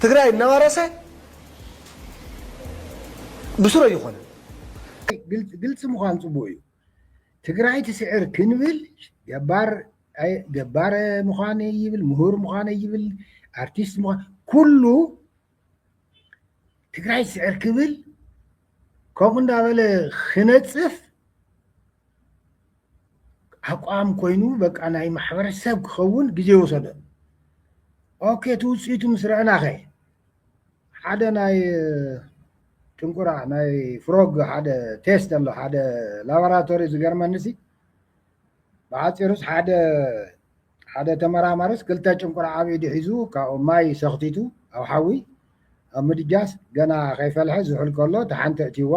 D: ትግራይ እናወረሰ ብስሩ ኣይኾነን።
E: ግልፂ ምዃን ፅቡቅ እዩ። ትግራይ ትስዕር ክንብል ገባር ገባር ምዃን ይብል ምሁር ምዃን ይብል ኣርቲስት ምዃን ኩሉ ትግራይ ስዕር ክብል ከምኡ እንዳበለ ክነፅፍ ኣቋም ኮይኑ በቃ ናይ ማሕበረሰብ ክኸውን ግዜ ወሰደ ኦኬ እቲ ውፅኢቱ ምስ ረአናኸ ሓደ ናይ ጥንቁራ ናይ ፍሮግ ሓደ ቴስት ኣሎ ሓደ ላቦራቶሪ ዝገርመኒ ሲ ብሓፂሩስ ሓደ ሓደ ተመራማሪስ ክልተ ጭንቁር ኣብ ኢዱ ሒዙ ካብኡ ማይ ሰኽቲቱ ኣብ ሓዊ ኣብ ምድጃስ ገና ከይፈልሐ ዝሑል ከሎ እታ ሓንቲ ኣእትይዋ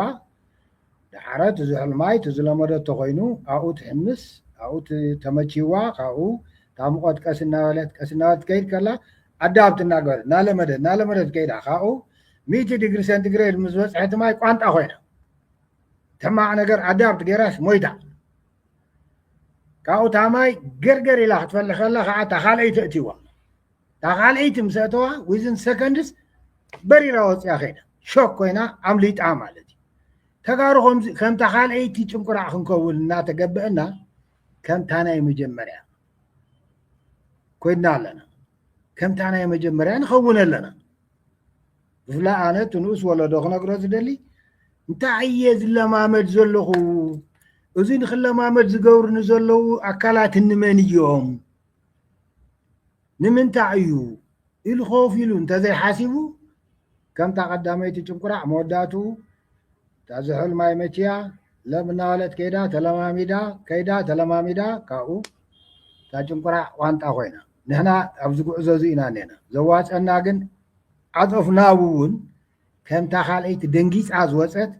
E: ደሓረ እቲ ዝሑል ማይ እቲ ዝለመደቶ ኮይኑ ኣብኡ ትሕምስ ኣብኡ ተመችይዋ ካብኡ እታ ሙቐት ቀስ እናበለት ቀስ እናበለት ትከይድ ከላ ኣዳብት እናገበረት እናለመደት እናለመደት ከይዳ ካብኡ ሚእቲ ዲግሪ ሴንቲግሬድ ምስ በፅሐት ማይ ቋንጣ ኮይና ሕማቕ ነገር ኣዳብት ገይራስ ሞይታ ካብኡ እታ ማይ ገርገር ኢላ ክትፈሊ ከላ ከዓ እታ ካልኣይቲ እትዋ እታ ካልኣይቲ ምስ ኣተዋ ዊዝን ሰከንድስ በሪራ ወፅያ ከይዳ ሾክ ኮይና ኣምሊጣ ማለት እዩ ተጋሩ ከምታ ካልኣይቲ ጭንቁራዕ ክንከውን እናተገበአና ከምታ ናይ መጀመርያ ኮይና ኣለና ከምታ ናይ መጀመርያ ንኸውን ኣለና ብፍላይ ኣነ እቲ ንኡስ ወለዶ ክነግሮ ዝደሊ እንታይ እየ ዝለማመድ ዘለኹ እዚ ንክለማመድ ዝገብሩ ንዘለዉ ኣካላት እንመን እዮም ንምንታይ እዩ ኢሉ ኮፍ ኢሉ እንተዘይሓሲቡ ከምታ ቀዳመይቲ ጭንቁራዕ መወዳእትኡ እታ
F: ዝሑል ማይ መችያ ለም እናበለት ከይዳ ተለማሚዳ ከይዳ ተለማሚዳ ካብኡ እታ ጭንቁራዕ ዋንጣ ኮይና ንሕና ኣብዚ ጉዕዞ እዚ ኢና እኔና ዘዋፀና ግን ዓፀፍ ናብ እውን ከምታ ካልኣይቲ ደንጊፃ ዝወፀት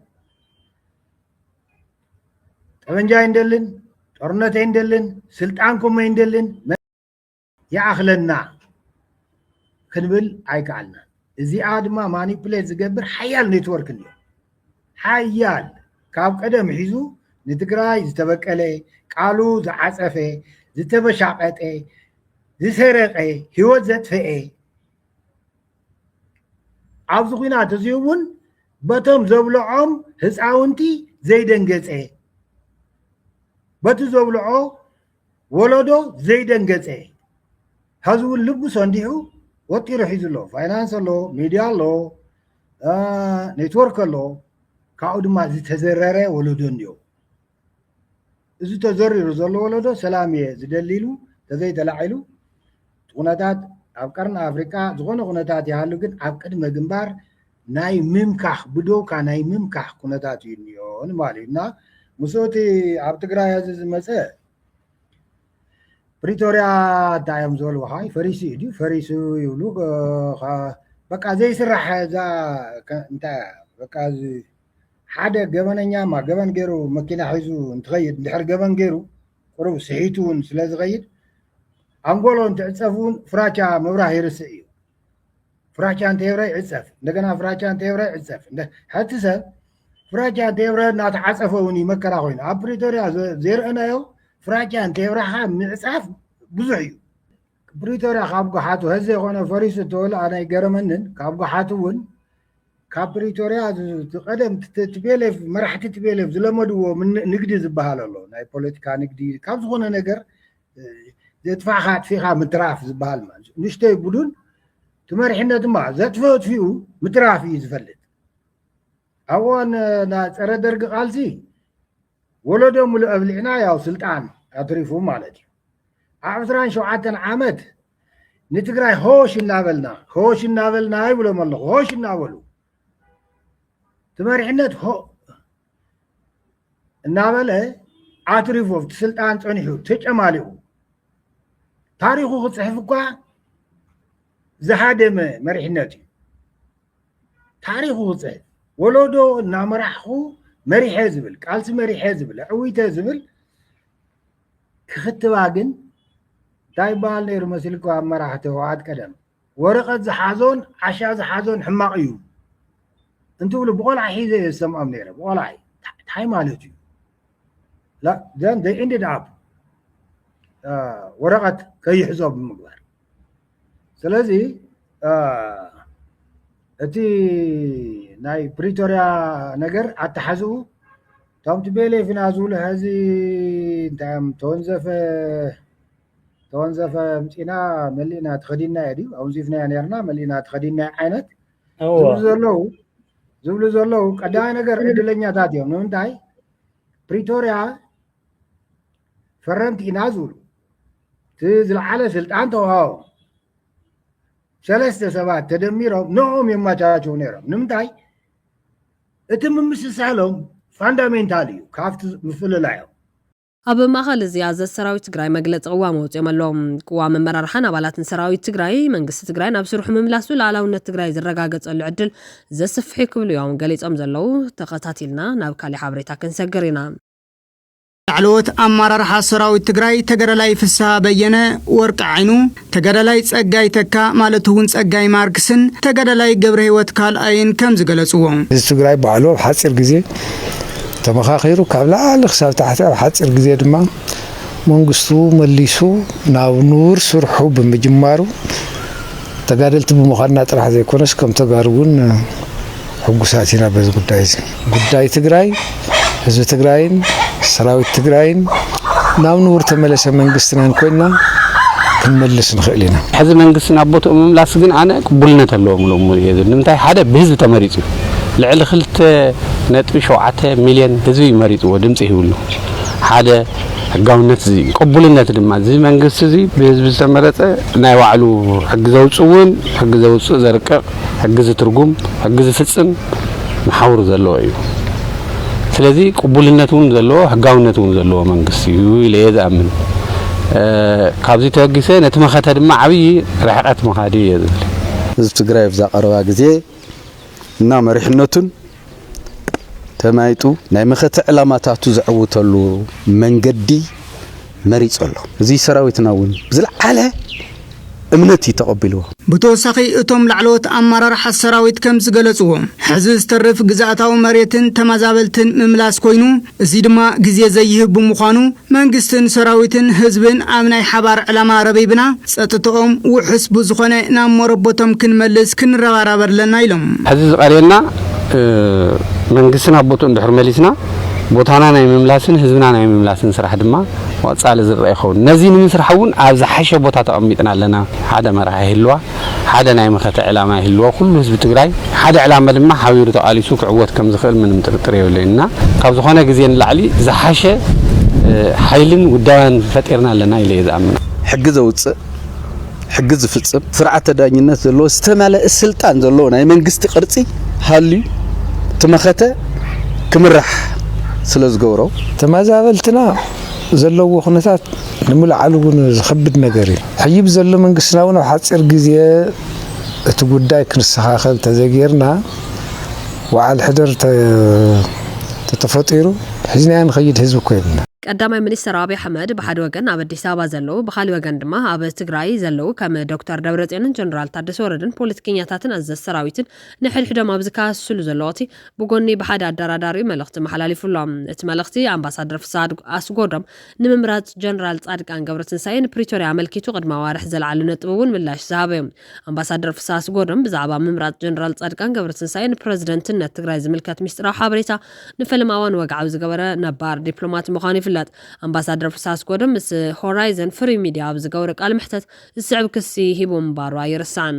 F: ጠበንጃ ይንደልን ጦርነት ኣይንደልን ስልጣንኩም ኣይንደልን ይኣኽለና ክንብል ኣይከኣልናን እዚኣ ድማ ማኒፕሌት ዝገብር ሓያል ኔትወርክ ኣሎ ሓያል ካብ ቀደም ሒዙ ንትግራይ ዝተበቀለ ቃሉ ዝዓፀፈ ዝተበሻቀጠ ዝሰረቀ ህይወት ዘጥፈኤ ኣብዚ ኩናት እዚ እውን በቶም ዘብልዖም ህፃውንቲ ዘይደንገፀ በቲ ዘብልዖ ወለዶ ዘይደንገፀ ሐዚ እውን ልቡ ሰንዲዑ ወጢሩ ሒዙ ኣሎ ፋይናንስ ኣሎ ሚድያ ኣሎ ኔትወርክ ኣሎ ካብኡ ድማ ዝተዘረረ ወለዶ እንዮ እዚ ተዘሪሩ ዘሎ ወለዶ ሰላም እየ ዝደሊ ኢሉ ተዘይተላዒሉ ኩነታት ኣብ ቀርኒ ኣፍሪቃ ዝኾነ ኩነታት ይሃሉ ግን ኣብ ቅድመ ግንባር ናይ ምምካኽ ብዶብካ ናይ ምምካኽ ኩነታት እዩ እኒኦ ንማል እዩ እና ምስኡ እቲ ኣብ ትግራይ ሕዚ ዝመፀ ፕሪቶርያ እንታይ እዮም ዝበልዋኻ ፈሪሱ እዩ ድዩ ፈሪሱ ይብሉ በቃ ዘይስራሕ እዛ እንታይ በቃ ሓደ ገበነኛማ ገበን ገይሩ መኪና ሒዙ እንትኸይድ እንድሕር ገበን ገይሩ ቁሩብ ስሒቱ እውን ስለ ዝኸይድ ኣንጎሎ እንትዕፀብ እውን ፍራቻ ምብራህ ይርስእ እዩ ፍራቻ እንተየብረ ይዕፀፍ እንደገና ፍራቻ እንተየብረ ይዕፀፍ ሓቲ ሰብ ፍራቻ እንተየብረ እናተዓፀፈ እውን እዩ መከራ ኮይኑ ኣብ ፕሪቶሪያ ዘይርአናዮ ፍራቻ እንተየብረካ ምዕፃፍ ብዙሕ እዩ ፕሪቶሪያ ካብ ጉሓቱ ህዚ የኮነ ፈሪሱ ተወሉ ኣነ ይገረመንን ካብ ጉሓቱ እውን ካብ ፕሪቶሪያ ቀደም ትቤሌፍ መራሕቲ ትቤሌፍ ዝለመድዎ ንግዲ ዝበሃል ኣሎ ናይ ፖለቲካ ንግዲ ካብ ዝኾነ ነገር ዘጥፋእኻ ኣጥፊእኻ ምትራፍ ዝበሃል ማለት እዩ ንሽተይ ቡዱን እቲ መሪሕነት ድማ ዘጥፍኡ ኣጥፊኡ ምትራፍ እዩ ዝፈልጥ ኣብ እዋን ፀረ ደርጊ ቃልሲ ወለዶ ሙሉእ ኣብሊዕና ያው ስልጣን ኣትሪፉ ማለት እዩ ኣብ ዕስራን ሸውዓተን ዓመት ንትግራይ ሆሽ እናበልና ሆሽ እናበልና ይብሎም ኣለኹ ሆሽ እናበሉ እቲ መሪሕነት እናበለ ኣትሪፉ ኣብቲ ስልጣን ፀኒሑ ተጨማሊቑ ታሪኹ ክፅሕፍ እኳ ዝሃደመ መሪሕነት እዩ ታሪኹ ክፅሕፍ ወለዶ እናመራሕኹ መሪሐ ዝብል ቃልሲ መሪሐ ዝብል ዕዊተ ዝብል ክኽትባ ግን እንታይ ይበሃል ነይሩ መሲልካ ኣብ መራሕቲ ህወሓት ቀደም ወረቀት ዝሓዞን ዓሻ ዝሓዞን ሕማቅ እዩ እንትብሉ ብቆልዓ ሒዘ እየ ዝሰምዖም ነይረ ብቆልዓ ታይ ማለት እዩ ዘን ዘይ ኢንድድ ኣብ ወረቀት ከይሕዞ ብምግባር ስለዚ እቲ ናይ ፕሪቶሪያ ነገር ኣተሓዝኡ እቶም ትቤሌፍና ዝብሉ ሕዚ እንታይ እዮም ተወንዘፈ ተወንዘፈ ምፂና መሊእና ተኸዲናዮ ድዩ ኣውንዚፍናዮ ነርና መሊእና ተኸዲናዮ ዓይነት ዝብሉ ዘለዉ ዝብሉ ዘለዉ ቀዳማይ ነገር ዕድለኛታት እዮም ንምንታይ ፕሪቶርያ ፈረምቲ ኢና ዝብሉ እቲ ዝለዓለ ስልጣን ተዋሃቦም ሰለስተ ሰባት ተደሚሮም ንኦም የመቻቸው ነይሮም ንምንታይ እቲ ምምስሳሎም ፋንዳሜንታል እዩ ካብቲ ምፍልላዮም ኣብ
A: ማእኸል እዚ ኣዘዝ ሰራዊት ትግራይ መግለፂ ቅዋም ኣውፂኦም ኣለው። ቅዋም ኣመራርሓን ኣባላትን ሰራዊት ትግራይ መንግስቲ ትግራይ ናብ ስርሑ ምምላሱ ልኣላውነት ትግራይ ዝረጋገፀሉ ዕድል ዘስፍሕ እዩ ክብሉ እዮም ገሊፆም ዘለው። ተኸታቲልና ናብ ካሊእ ሓበሬታ ክንሰግር ኢና።
G: ላዕለዎት ኣመራርሓ ሰራዊት ትግራይ ተገዳላይ ፍስሃ በየነ፣ ወርቂ ዓይኑ፣ ተጋዳላይ ጸጋይ ተካ ማለት'ውን ጸጋይ ማርክስን ተጋዳላይ ገብረሂወት ካልኣይን ከም ዝገለጽዎ። ህዝቢ ትግራይ ባዕሉ ኣብ
H: ሓጺር ግዜ ተመኻኺሩ ካብ ላዕሊ ክሳብ ታሕቲ ኣብ ሓጺር ግዜ ድማ መንግስቱ መሊሱ ናብ ንቡር ስርሑ ብምጅማሩ ተጋደልቲ ብምዃንና ጥራሕ ዘይኮነስ ከም ተጋሩ'ውን ሕጉሳት ኢና በዚ ጉዳይ እዚ። ጉዳይ ትግራይ፣ ህዝቢ ትግራይን ሰራዊት ትግራይን ናብ ንቡር ተመለሰ መንግስትናን ኮይንና ክንመልስ ንኽእል ኢና። ሕዚ መንግስቲ ናብ
I: ቦትኡ ምምላስ ግን ኣነ ቅቡልነት ኣለዎም ኢለ እሙን እየ ዝብል። ንምንታይ ሓደ ብህዝቢ ተመሪፁ እዩ። ልዕሊ ክልተ ነጥቢ ሸውዓተ ሚልዮን ህዝቢ እዩ መሪፅዎ ድምፂ ሂብሉ። ሓደ ሕጋውነት እዚ እዩ። ቅቡልነት ድማ እዚ መንግስቲ እዚ ብህዝቢ ዝተመረፀ ናይ ባዕሉ ሕጊ ዘውፅእውን ሕጊ ዘውፅእ ዘርቅቕ ሕጊ ዝትርጉም ሕጊ ዝፍጽም መሓውር ዘለዎ እዩ ስለዚ ቅቡልነት እውን ዘለዎ ሕጋውነት እውን ዘለዎ መንግስቲ እዩ ኢለ እየ ዝኣምን ካብዚ ተበጊሰ ነቲ መኸተ ድማ ዓብዪ ርሕቀት መኻዲ እየ ዝብል ህዝቢ ትግራይ
J: ኣብዛ ቀረባ ግዜ እና መሪሕነቱን ተማይጡ ናይ መኸተ ዕላማታቱ ዘዕውተሉ መንገዲ መሪጹ ኣሎ። እዚ ሰራዊትና እውን ብዝለዓለ እምነት እዩ ተቐቢልዎ። ብተወሳኺ
G: እቶም ላዕለዎት ኣመራርሓ ሰራዊት ከም ዝገለጽዎ፣ ሕዚ ዝተርፍ ግዝኣታዊ መሬትን ተመዛበልትን ምምላስ ኮይኑ፣ እዚ ድማ ግዜ ዘይህብ ብምዃኑ፣ መንግስትን ሰራዊትን ህዝብን ኣብ ናይ ሓባር ዕላማ ረቢብና ፀጥትኦም ውሑስ ብዝኾነ ናብ ሞረቦቶም ክንመልስ ክንረባራብ ኣለና ኢሎም። ሕዚ ዝቐርየና
I: መንግስቲ ናብ ቦትኡ እንድሕር መሊስና ቦታና ናይ ምምላስን ህዝብና ናይ ምምላስን ስራሕ ድማ ብቐፃሊ ዝርኣ ይኸውን። ነዚ ንምስራሕ እውን ኣብ ዝሓሸ ቦታ ተቐሚጥና ኣለና ሓደ መራሒ ህልዋ። ሓደ ናይ መኸተ ዕላማ ይህልዎ። ኩሉ ህዝቢ ትግራይ ሓደ ዕላማ ድማ ሓቢሩ ተቓሊሱ ክዕወት ከም ዝኽእል ምንም ጥርጥር የብለይን እና ካብ ዝኾነ ግዜ ንላዕሊ ዝሓሸ ሓይልን ውዳበን ፈጢርና ኣለና ኢለ እየ ዝኣምን። ሕጊ ዘውፅእ፣
J: ሕጊ ዝፍፅም፣ ስርዓተ ዳኝነት ዘለዎ ዝተመለኣ ስልጣን ዘለዎ ናይ መንግስቲ ቅርፂ ሃልዩ እቲ መኸተ ክምራሕ ስለ ዝገብሮ፣ ተመዛበልትና ዘለዎ ኩነታት ንምልዓሉ እውን ዝኸብድ ነገር እዩ። ሕጂ ብዘሎ መንግስትና እውን ኣብ ሓጺር ግዜ እቲ ጉዳይ ክንሰኻኸል ተዘይገይርና ወዓል ሕደር ተተፈጢሩ ሒዝናዮ ንኸይድ ህዝቢ እኮ የብልናን። ቀዳማይ ሚኒስትር ኣብይ
A: ኣሕመድ ብሓደ ወገን ኣብ ኣዲስ ኣበባ ዘለዉ ብኻሊእ ወገን ድማ ኣብ ትግራይ ዘለዉ ከም ዶክተር ደብረፅዮንን ጀነራል ታደሰ ወረደን ፖለቲከኛታትን ኣዘዝ ሰራዊትን ንሕድሕዶም ኣብ ዝከሃስስሉ ዘሎ ወቅቲ ብጎኒ ብሓደ ኣደራዳሪኡ መልእኽቲ መሓላሊፉ ኣሎ። እቲ መልእኽቲ ኣምባሳደር ፍስሃ ኣስጎዶም ንምምራጽ ጀነራል ጻድቃን ገብረትንሳኤ ንፕሪቶርያ ኣመልኪቱ ቅድሚ ኣዋርሕ ዘልዓሎ ነጥቢ እውን ምላሽ ዝሃበ'ዩ። ኣምባሳደር ፍስሃ ኣስጎዶም ብዛዕባ ምምራጽ ጀነራል ጻድቃን ገብረትንሳኤ ንፕረዚደንትነት ትግራይ ዝምልከት ሚስጢራዊ ሓበሬታ ንፈለማ እዋን ወግዓዊ ዝገበረ ነባር ዲፕሎማት ምዃኑ ይፍለጥ። ኣምባሳደር ፍስሃ ኣስጎዶም ምስ ሆራይዘን ፍሪ ሚድያ ኣብ ዝገብሮ ቃለመሕተት ዝስዕብ ክሲ ሂቡ ምንባሩ ኣይርሳዕን።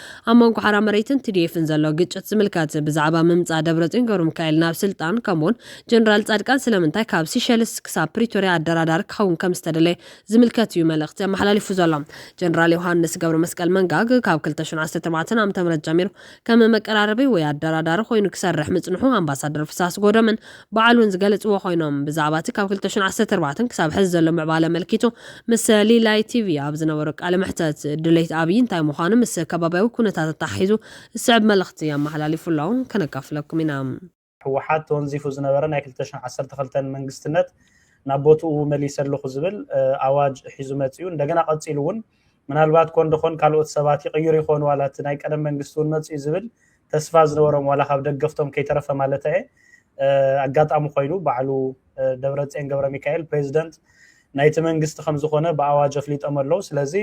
A: ኣብ መንጎ ሓራ መሬትን ቲዲኤፍን ዘሎ ግጭት ዝምልከት ብዛዕባ ምምጻእ ደብረጽዮን ገብረሚካኤል ናብ ስልጣን ከምኡውን ጀነራል ጻድቃን ስለምንታይ ካብ ሲሸልስ ክሳብ ፕሪቶርያ ኣደራዳሪ ክኸውን ከም ዝተደለየ ዝምልከት እዩ መልእኽቲ ኣመሓላሊፉ ዘሎ። ጀነራል ዮሃንስ ገብረመስቀል መንጋግ ካብ ክልተ ሽሕ ዓሰርተ ኣርባዕተ ዓመተ ምህረት ጀሚሩ ከም መቀራረቢ ወይ ኣደራዳሪ ኮይኑ ክሰርሕ ምጽንሑ ኣምባሳደር ፍስሃ ኣስጎዶምን በዓል እውን ዝገለፅዎ ኮይኖም ብዛዕባ እቲ ካብ ክልተ ሽሕን ዓሰርተ ኣርባዕተን ክሳብ ሕዚ ዘሎ ምዕባለ ኣመልኪቱ ምስ ሊላይ ቲቪ ኣብ ዝነበሮ ቃለ መሕተት ድሌት ኣብይ እንታይ ምዃኑ ምስ ከባብያዊ ኩነታት ኣተሓሒዙ ዝስዕብ መልእኽቲ ኣመሓላሊፉ ኣሎ ከነካፍለኩም ኢና። ህወሓት
K: ተወንዚፉ ዝነበረ ናይ ክልተ ሽሕን ዓሰርተ ክልተን መንግስትነት ናብ ቦትኡ መሊሰ ኣለኹ ዝብል ኣዋጅ ሒዙ መፂኡ እንደገና ቀፂሉ እውን ምናልባት ኮን ደኾን ካልኦት ሰባት ይቕይሩ ይኾኑ ዋላ እቲ ናይ ቀደም መንግስቲ እውን መፂኡ ዝብል ተስፋ ዝነበሮም ዋላ ካብ ደገፍቶም ከይተረፈ ማለተየ ኣጋጣሚ ኮይኑ ባዕሉ ደብረፅዮን ገብረሚካኤል ፕሬዚደንት ናይቲ መንግስቲ ከምዝኾነ ብኣዋጅ ኣፍሊጦም ኣለው ስለዚ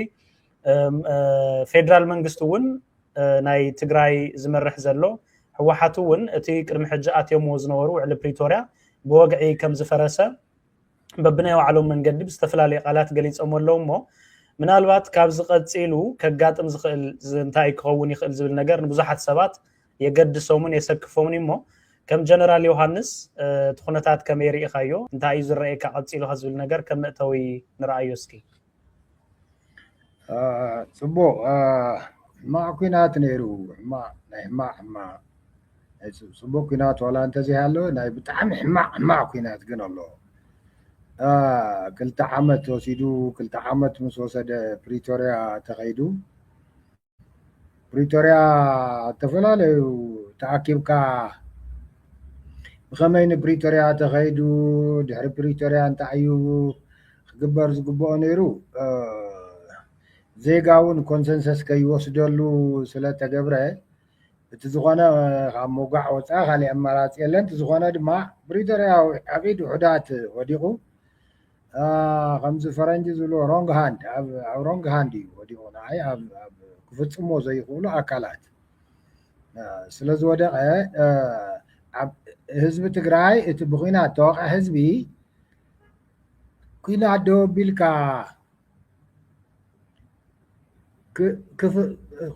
K: ፌደራል መንግስቲ እውን ናይ ትግራይ ዝመርሕ ዘሎ ህወሓት እውን እቲ ቅድሚ ሕጂ ኣትዮምዎ ዝነበሩ ውዕሊ ፕሪቶርያ ብወግዒ ከም ዝፈረሰ በብናይ ባዕሎም መንገዲ ብዝተፈላለየ ቃላት ገሊፆሞ ኣለዉ እሞ ምናልባት ካብዚ ቀፂሉ ከጋጥም ዝኽእል እንታይ ክኸውን ይኽእል ዝብል ነገር ንብዙሓት ሰባት የገድሶምን የሰክፎምን እሞ ከም ጀነራል ዮሃንስ እቲ ኩነታት ከመይ ርኢኻዮ እንታይ እዩ ዝረኣየካ ቀፂሉ ዝብል ነገር ከም መእተዊ ንርኣዮ እስኪ
F: ፅቡቕ ሕማቕ ኲናት ነይሩ ሕማቕ ናይ ሕማቕ ሕማቕ ናይ ፅቡቕ ኲናት ዋላ እንተዘይሃለወ ናይ ብጣዕሚ ሕማቕ ሕማቕ ኲናት ግን ኣሎ። ክልተ ዓመት ወሲዱ ክልተ ዓመት ምስ ወሰደ ፕሪቶርያ ተኸይዱ። ፕሪቶርያ ዝተፈላለዩ ተኣኪብካ ብኸመይ ንፕሪቶርያ ተኸይዱ ድሕሪ ፕሪቶርያ እንታይ እዩ ክግበር ዝግበኦ ነይሩ ዜጋ እውን ኮንሰንሰስ ከይወስደሉ ስለተገብረ እቲ ዝኾነ ካብ ምውጋዕ ወፃኢ ካሊእ ኣማራፂ የለን እቲ ዝኾነ ድማ ፕሪቶርያ ኣብ ኢድ ውሑዳት ወዲቑ ከምዚ ፈረንጂ ዝብሎ ሮንግ ሃንድ ኣብ ሮንግ ሃንድ እዩ ወዲቑ ንዓይ ኣብ ክፍፅሞ ዘይኽእሉ ኣካላት ስለ ዝወደቐ ኣብ ህዝቢ ትግራይ እቲ ብኩናት ተወቕዐ ህዝቢ ኩናት ደው ኣቢልካ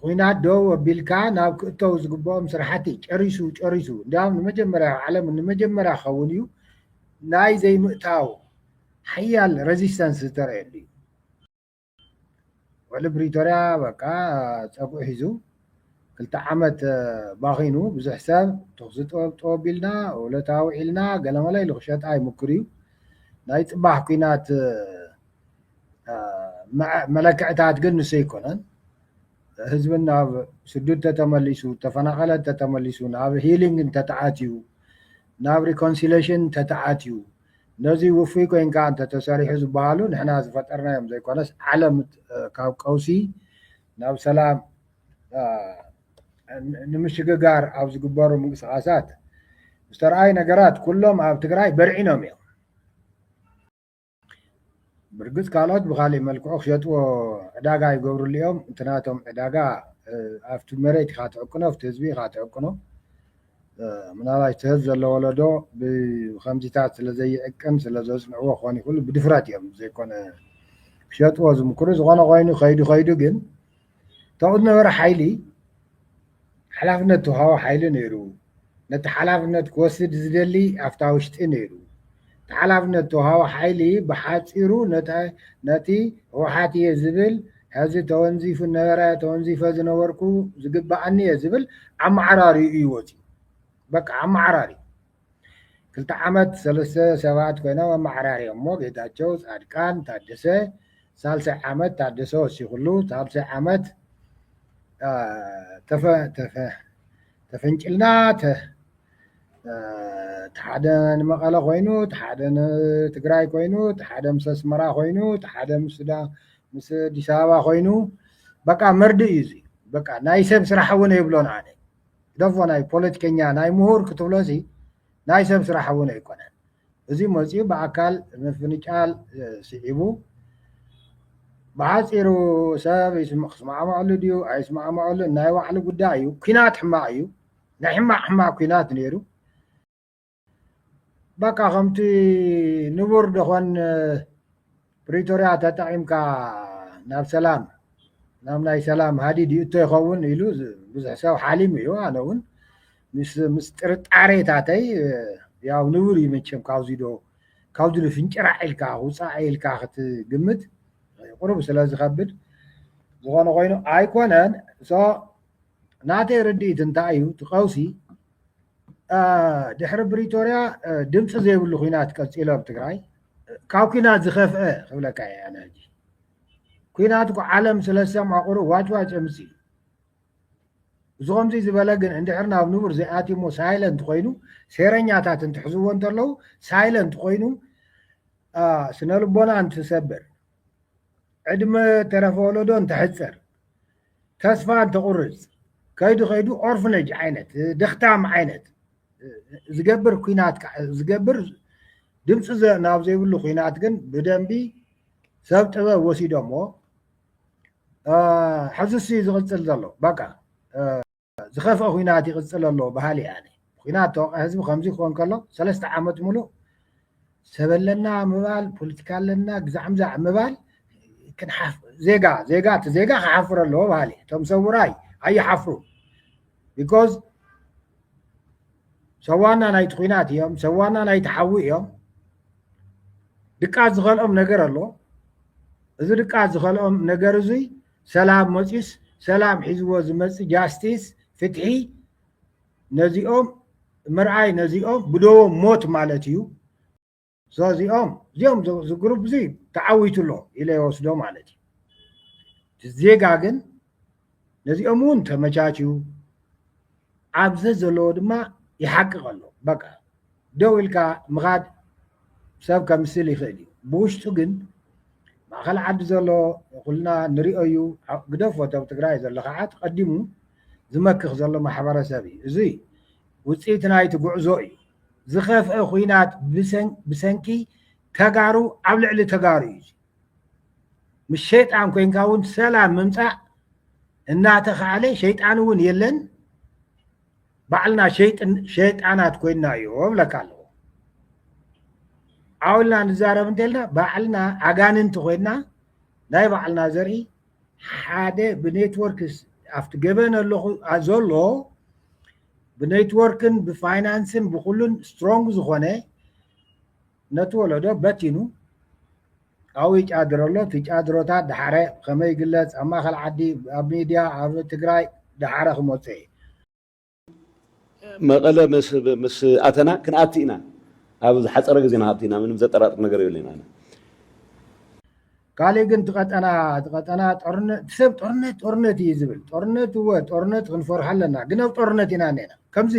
F: ኩናት ደው ኣቢልካ ናብ ክእተው ዝግብኦም ስራሕቲ ጨሪሱ ጨሪሱ እንዲያውም ንመጀመርያ ኣብ ዓለም ንመጀመርያ ክኸውን እዩ ናይ ዘይምእታው ሓያል ረዚስተንስ ዝተረየሉ እዩ ወሊ ብሪቶርያ በቃ ፀጉዒ ሒዙ ክልተ ዓመት ባኺኑ ብዙሕ ሰብ ተኽሲ ጠወቢልና ውለታ ውዒልና ገለመለ ኢሉ ክሸጣ ይምክር እዩ ናይ ፅባሕ ኩናት መለክዕታት ግን ንሱ ኣይኮነን ህዝቢ ናብ ስዱድ ተተመሊሱ ተፈናቐለ ተተመሊሱ ናብ ሂሊንግ እንተተኣትዩ ናብ ሪኮንሲሌሽን እንተተኣትዩ ነዚ ውፉይ ኮንካ እንተተሰሪሑ ዝበሃሉ ንሕና ዝፈጠርናዮም ዘይኮነስ ዓለም ካብ ቀውሲ ናብ ሰላም ንምሽግጋር ኣብ ዝግበሩ ምንቅስቓሳት ዝተረኣዩ ነገራት ኩሎም ኣብ ትግራይ በርዒኖም እዮም። ብርግፅ ካልኦት ብካሊእ መልክዑ ክሸጥዎ ዕዳጋ ይገብርሉ እዮም እቲ ናቶም ዕዳጋ ኣብቲ መሬት ኢካ ትዕቅኖ ኣብቲ ህዝቢ ኢካ ትዕቅኖ ምናልባሽ እቲ ሀዚ ዘሎ ወለዶ ብከምዚታት ስለ ዘይዕቅን ስለ ዘፅንዕዎ ክኮን ይክእሉ ብድፍረት እዮም ዘይኮነ ክሸጥዎ ዝምክሩ ዝኮነ ኮይኑ ከይዱ ከይዱ ግን እታወት ነበረ ሓይሊ ሓላፍነት ተውሃቦ ሓይሊ ነይሩ። ነቲ ሓላፍነት ክወስድ ዝደሊ ኣብታ ውሽጢ ነይሩ። እቲ ሓላፍነት ተውሃቦ ሓይሊ ብሓፂሩ ነቲ ህወሓት እየ ዝብል ሕዚ ተወንዚፉ ነበረ ተወንዚፈ ዝነበርኩ ዝግበኣኒ እየ ዝብል ኣመዓራርዩ እዩ ወፂኡ። በቃ ኣመዓራርዩ። ክልተ ዓመት ሰለስተ ሰባት ኮይኖም ኣመዓራርዮሞ ጌታቸው ፃድቃን ታደሰ ሳልሳይ ዓመት ታደሰ ወሲክሉ ሳልሳይ ዓመት ተፈ ተፈ ተፈንጭልና ተሓደ ንመቐለ ኮይኑ ተሓደ ንትግራይ ኮይኑ ተሓደ ምስ ኣስመራ ኮይኑ ተሓደ ምስ ምስ ኣዲስ ኣበባ ኮይኑ በቃ መርድእ እዩ እዚ በቃ ናይ ሰብ ስራሕ እውን የብሎን ኣነ ግደፎ ናይ ፖለቲከኛ ናይ ምሁር ክትብሎሲ ናይ ሰብ ስራሕ እውን ኣይኮነን። እዚ መፂኡ ብኣካል ምፍንጫል ስዒቡ ብሓፂሩ ሰብ ክስማዕመዐሉ ድዩ ኣይስማዕመዐሉን ናይ ባዕሉ ጉዳይ እዩ። ኲናት ሕማቕ እዩ። ናይ ሕማቕ ሕማቕ ኲናት ነይሩ። በቃ ከምቲ ንቡር ደኾን ፕሪቶርያ ተጠቒምካ ናብ ሰላም ናብ ናይ ሰላም ሃዲድ ይእቶ ይኸውን ኢሉ ብዙሕ ሰብ ሓሊሙ እዩ ኣነ እውን ምስ ጥርጣሬታተይ ያው ንቡር እዩ መቸም ካብዚ ዶ ካብዚ ዶ ፍንጭራዕ ኢልካ ውፃእ ኢልካ ክትግምት ቁሩብ ስለ ዝኸብድ ዝኾነ ኮይኑ ኣይኮነን ናተይ ርድኢት እንታይ'ዩ እቲ ቀውሲ ድሕሪ ብሪቶርያ ድምፂ ዘይብሉ ኩናት ቀፂሎ ኣብ ትግራይ ካብ ኩናት ዝኸፍአ ክብለካ እየ ኣነ ሕጂ ኩናት እኮ ዓለም ስለ ዝሰምዖ ቁሩብ ዋጭዋጭ የምፅእ እዩ እዚ ከምዚ ዝበለ ግን እንድሕር ናብ ንቡር ዘይኣትዩ እሞ ሳይለንት ኮይኑ ሴረኛታት እንትሕዝዎ እንተለዉ ሳይለንት ኮይኑ ስነ ልቦና እንትሰብር ዕድመ ተረፈ ወለዶ እንትሕፀር ተስፋ እንትቑርፅ ከይዱ ከይዱ ኦርፍነጅ ዓይነት ደኽታም ዓይነት ዝገብር ኩናት ዝገብር ድምፂ ናብ ዘይብሉ ኩናት ግን ብደንቢ ሰብ ጥበብ ወሲዶሞ ሕዝሲ ዝቕፅል ዘሎ በቃ ዝኸፍኣ ኩናት ይቕጽል ኣሎ በሃሊ እየ ኣነ። ኩናት ተወቃ ህዝቢ ከምዚ ክኾን ከሎ ሰለስተ ዓመት ምሉእ ሰብ ኣለና ምባል ፖለቲካ ኣለና ግዛዕምዛዕ ምባል ዜጋ ዜጋ እቲ ዜጋ ክሓፍር ኣለዎ በሃሊ እቶም ሰውራይ ኣይሓፍሩ ቢኮዝ ሰዋና ናይቲ ኩናት እዮም ሰዋና ናይቲ ሓዊ እዮም ድቃት ዝኸልኦም ነገር ኣሎ እዚ ድቃት ዝኸልኦም ነገር እዙይ ሰላም መፅዩስ ሰላም ሒዝዎ ዝመፅእ ጃስቲስ ፍትሒ ነዚኦም ምርኣይ ነዚኦም ብደዎም ሞት ማለት እዩ ሶ እዚኦም እዚኦም ዝግሩፕ እዚ ተዓዊቱ ኣሎ ኢለ ይወስዶ ማለት እዩ ዜጋ ግን ነዚኦም እውን ተመቻችዩ ኣብ ዘዘለዎ ድማ ይሓቅቕ ኣሎ በቃ ደው ኢልካ ምኻድ ሰብ ከምስል ይኽእል እዩ ብውሽጡ ግን ማእኸል ዓዲ ዘሎ ኩልና ንሪኦ እዩ ግደፍ ወተብ ትግራይ ዘሎ ከዓ ተቐዲሙ ዝመክኽ ዘሎ ማሕበረሰብ እዩ እዚ ውፅኢት ናይቲ ጉዕዞ እዩ ዝኸፍአ ኩናት ብሰንኪ ተጋሩ ኣብ ልዕሊ ተጋሩ እዩ ምስ ሸይጣን ኮንካ እውን ሰላም ምምፃእ እናተኸኣለ ሸይጣን እውን የለን ባዕልና ሸይጣናት ኮይና እዮ ብለካ ኣለዎ ዓውልና ንዛረብ እንተልና ባዕልና ኣጋንንቲ ኮይና ናይ ባዕልና ዘርኢ ሓደ ብኔትወርክ ኣብቲ ገበን ኣለኹ ዘሎ ብኔትወርክን ብፋይናንስን ብኩሉን ስትሮንግ ዝኾነ ነቲ ወለዶ በቲኑ ኣብኡ ይጫድሮ ኣሎ። እቲ ጫድሮታት ደሓረ ከመይ ይግለጽ ኣብ ማእከል ዓዲ፣ ኣብ ሚድያ፣ ኣብ ትግራይ ደሓረ ክመጾ ኢዩ።
L: መቐለ ምስ ኣተና ክንኣቲ ኢና ኣብ ዝሓፀረ ግዜ ንኣቲ ኢና ምንም ዘጠራጥር ነገር የብለይን ኣነ።
F: ካልእ ግን ትቀጠና ትቀጠና ጦርነት ሰብ ጦርነት ጦርነት እዩ ዝብል ጦርነት እወ ጦርነት ክንፈርሖ ኣለና ግን ኣብ ጦርነት ኢና ነና ከምዚ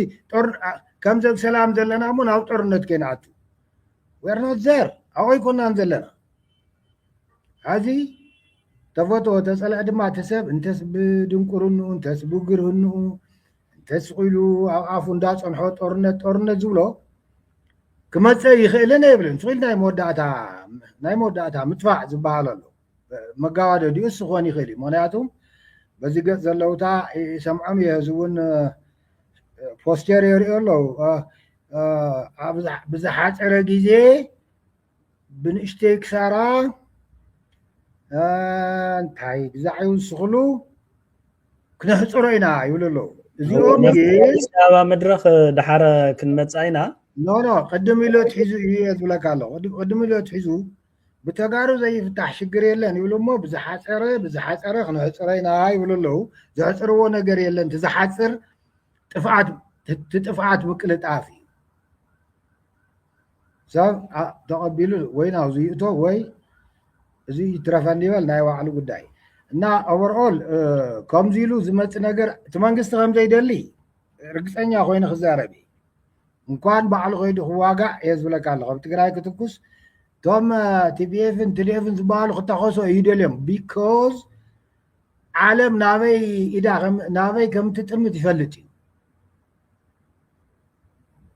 F: ከምዚ ኣብ ሰላም ዘለና እሞ ናብ ጦርነት ከይንኣቱ ወርኖት ዘር ኣብኡ ኣይኮናን ዘለና ሕዚ ተፈትዎ ተፀልዐ ድማ እቲ ሰብ እንተስ ብድንቁርንኡ እንተስ ብግርህንኡ እንተስ ኢሉ ኣብ ኣፉ እንዳፀንሖ ጦርነት ጦርነት ዝብሎ ክመፀእ ይኽእልን የብልን ስኺል ናይ መወዳእታ ናይ መወዳእታ ምጥፋዕ ዝበሃል ኣሎ መጋዋደዲኡ እሱ ክኾን ይኽእል እዩ ምክንያቱ በዚ ገፅ ዘለውታ ይሰምዖም እየ እዚ እውን ፖስቴር የርእዮ ኣለዉ ብዝሓፀረ ግዜ ብንእሽተይ ክሳራ እንታይ ግዛዕ ይውስኽሉ ክነሕፅሮ ኢና ይብሉ ኣለዉ እዚኦም ኣዲስ ኣበባ
K: መድረኽ ድሓረ ክንመፅኣ ኢና ኖ ኖ ቅድም
F: ኢሎ ትሒዙ እዩ እየ ዝብለካ ኣሎ ቅድም ኢሎ ትሒዙ ብተጋሩ ዘይፍታሕ ሽግር የለን ይብሉ እሞ ብዝሓፀረ ብዝሓፀረ ክነሕፅረ ኢና ይብሉ ኣለዉ ዘሕፅርዎ ነገር የለን ትዝሓፅር ጥፍኣት ትጥፍኣት ምቅልጣፍ እዩ ሰብ ተቐቢሉ ወይ ናብዚ ይእቶ ወይ እዚ ይትረፈኒ ይበል ናይ ባዕሉ ጉዳይ እና ኦቨርኦል ከምዚ ኢሉ ዝመፅ ነገር እቲ መንግስቲ ከምዘይደሊ ርግፀኛ ኮይኑ ክዛረብ እዩ እንኳን ባዕሉ ከይዱ ክዋጋእ እየ ዝብለካ ኣለኹ ኣብ ትግራይ ክትኩስ እቶም ቲፒኤፍን ትዲኤፍን ዝበሃሉ ክተኸሶ እዩ ደልዮም ቢኮዝ ዓለም ናበይ ኢዳ ናበይ ከምትጥምት ይፈልጥ እዩ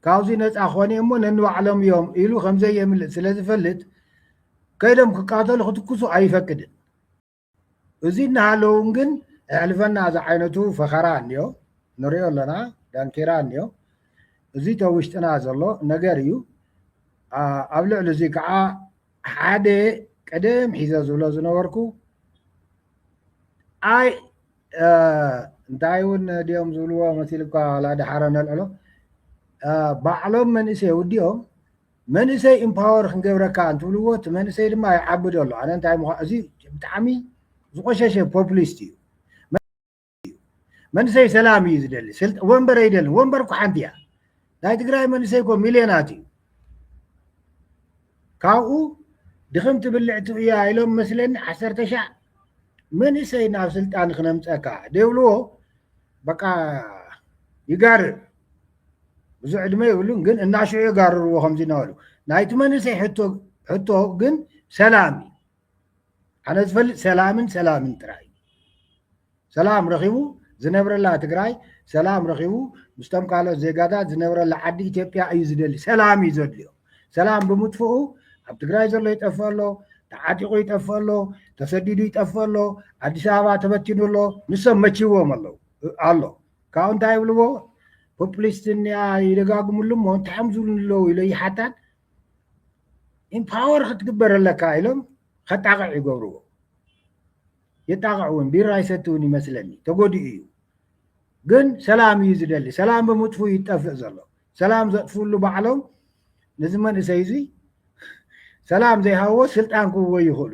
F: ካብዚ ነፃ ኮነ እሞ ነንባዕሎም እዮም ኢሉ ከምዘየምልጥ ስለ ዝፈልጥ ከይዶም ክቃተሉ ክትኩሱ ኣይፈቅድን እዚ እናሃለውን ግን ኣሕልፈና እዚ ዓይነቱ ፈኸራ እኒዮ ንሪኦ ኣለና ዳንኬራ እኒዮ እዚ ተውሽጥና ዘሎ ነገር እዩ ኣብ ልዕሊ እዚ ከዓ ሓደ ቀደም ሒዘ ዝብሎ ዝነበርኩ ኣይ እንታይ እውን ድኦም ዝብልዎ መሲልካ ላድሓረ ነልዕሎ ባዕሎም መንእሰይ ውዲኦም መንእሰይ ኢምፓወር ክንገብረካ እንትብልዎ እቲ መንእሰይ ድማ ይዓብዶ ኣሎ ኣነ እንታይ ምኳ እዚ ብጣዕሚ ዝቆሸሸ ፖፕሊስት እዩ መንእሰይ ሰላም እዩ ዝደሊ ወንበር ኣይደልን ወንበር እኳ ሓንቲ እያ ናይ ትግራይ መንእሰይ እኮ ሚልዮናት እዩ ካብኡ ድኽምቲ ብልዕቲ እያ ኢሎም መስለኒ ዓሰርተ ሻዕ መንእሰይ ናብ ስልጣን ክነምፀካ ደብልዎ በቃ ይጋርር ብዙ ዕድመ ይብሉን ግን እናሽዑ የጋርርዎ ከምዚ እናበሉ ናይቲ መንእሰይ ሕቶ ግን ሰላም እዩ ኣነ ዝፈልጥ ሰላምን ሰላምን ጥራይ ሰላም ረኺቡ ዝነብረላ ትግራይ ሰላም ረኺቡ ምስቶም ካልኦት ዜጋታት ዝነብረላ ዓዲ ኢትዮጵያ እዩ ዝደሊ ሰላም እዩ ዘድልዮ ሰላም ብምጥፍኡ ኣብ ትግራይ ዘሎ ይጠፍእ ኣሎ ተዓጢቑ ይጠፍእ ኣሎ ተሰዲዱ ይጠፍእ ኣሎ ኣዲስ ኣበባ ተበቲኑ ኣሎ ንሶም መቺዎም ኣለዉ ኣሎ ካብኡ እንታይ ይብልዎ ፖፕሊስት እኒኣ ይደጋግምሉ እሞ እንታይ እዮም ዝብሉ ኣለዉ ኢለ ይሓታን ኢምፓወር ክትግበር ኣለካ ኢሎም ከጣቕዕ ይገብርዎ የጣቕዕ እውን ቢራ ይሰቲ እውን ይመስለኒ ተጎዲኡ እዩ ግን ሰላም እዩ ዝደሊ ሰላም ብምጥፉ እዩ ይጠፍእ ዘሎ ሰላም ዘጥፍሉ ባዕሎም ነዚ መንእሰይ እዚ ሰላም ዘይሃብዎ ስልጣን ክህቦ ይኽእሉ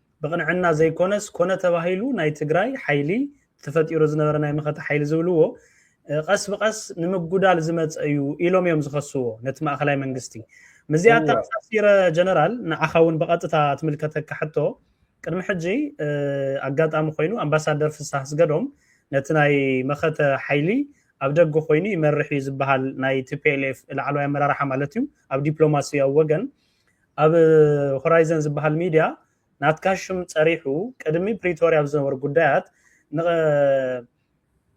K: ብቕንዕና ዘይኮነስ ኮነ ተባሂሉ ናይ ትግራይ ሓይሊ ተፈጢሩ ዝነበረ ናይ መኸተ ሓይሊ ዝብልዎ ቐስ ብቐስ ንምጉዳል ዝመፀ እዩ ኢሎም እዮም ዝኸስዎ ነቲ ማእኸላይ መንግስቲ ምዚኣ ኣተኣሳሲረ ጀነራል ንዓኻ እውን ብቐጥታ ትምልከተካ ሕቶ ቅድሚ ሕጂ ኣጋጣሚ ኮይኑ ኣምባሳደር ፍሳህ ስገዶም ነቲ ናይ መኸተ ሓይሊ ኣብ ደገ ኮይኑ ይመርሕ እዩ ዝበሃል ናይ ቲፒኤልኤፍ ላዕለዋይ ኣመራርሓ ማለት እዩ ኣብ ዲፕሎማሲያዊ ወገን ኣብ ሆራይዘን ዝበሃል ሚድያ ናትካ ሽም ፀሪሑ ቅድሚ ፕሪቶርያ ኣብ ዝነበሩ ጉዳያት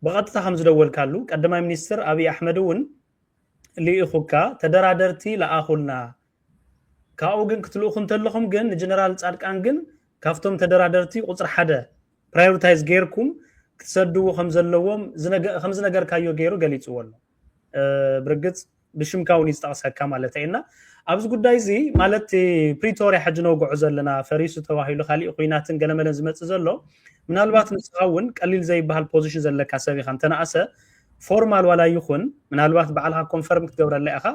K: ብቐጥታ ከም ዝደወልካሉ ቀዳማይ ሚኒስትር ኣብዪ ኣሕመድ እውን ልኢኹካ ተደራደርቲ ለኣኹልና ካብኡ ግን ክትልእኹ እንተለኹም ግን ንጀነራል ፃድቃን ግን ካብቶም ተደራደርቲ ቁፅሪ ሓደ ፕራዮሪታይዝ ገይርኩም ክትሰድዎ ከም ዘለዎም ከም ዝነገርካዮ ገይሩ ገሊፅዎ ኣሎ ብርግፅ ብሽምካ ውን እዩ ዝጠቕሰካ ማለተይ እና ኣብዚ ጉዳይ እዚ ማለት ፕሪቶርያ ሕጂ ነውግዖ ዘለና ፈሪሱ ተባሂሉ ካሊእ ኩናትን ገለመለን ዝመፅእ ዘሎ ምናልባት ንስኻ እውን ቀሊል ዘይበሃል ፖዚሽን ዘለካ ሰብ ኢኻ እንተነኣሰ ፎርማል ዋላ ይኹን ምናልባት በዓልካ ኮንፈርም ክትገብረላ ኢኻ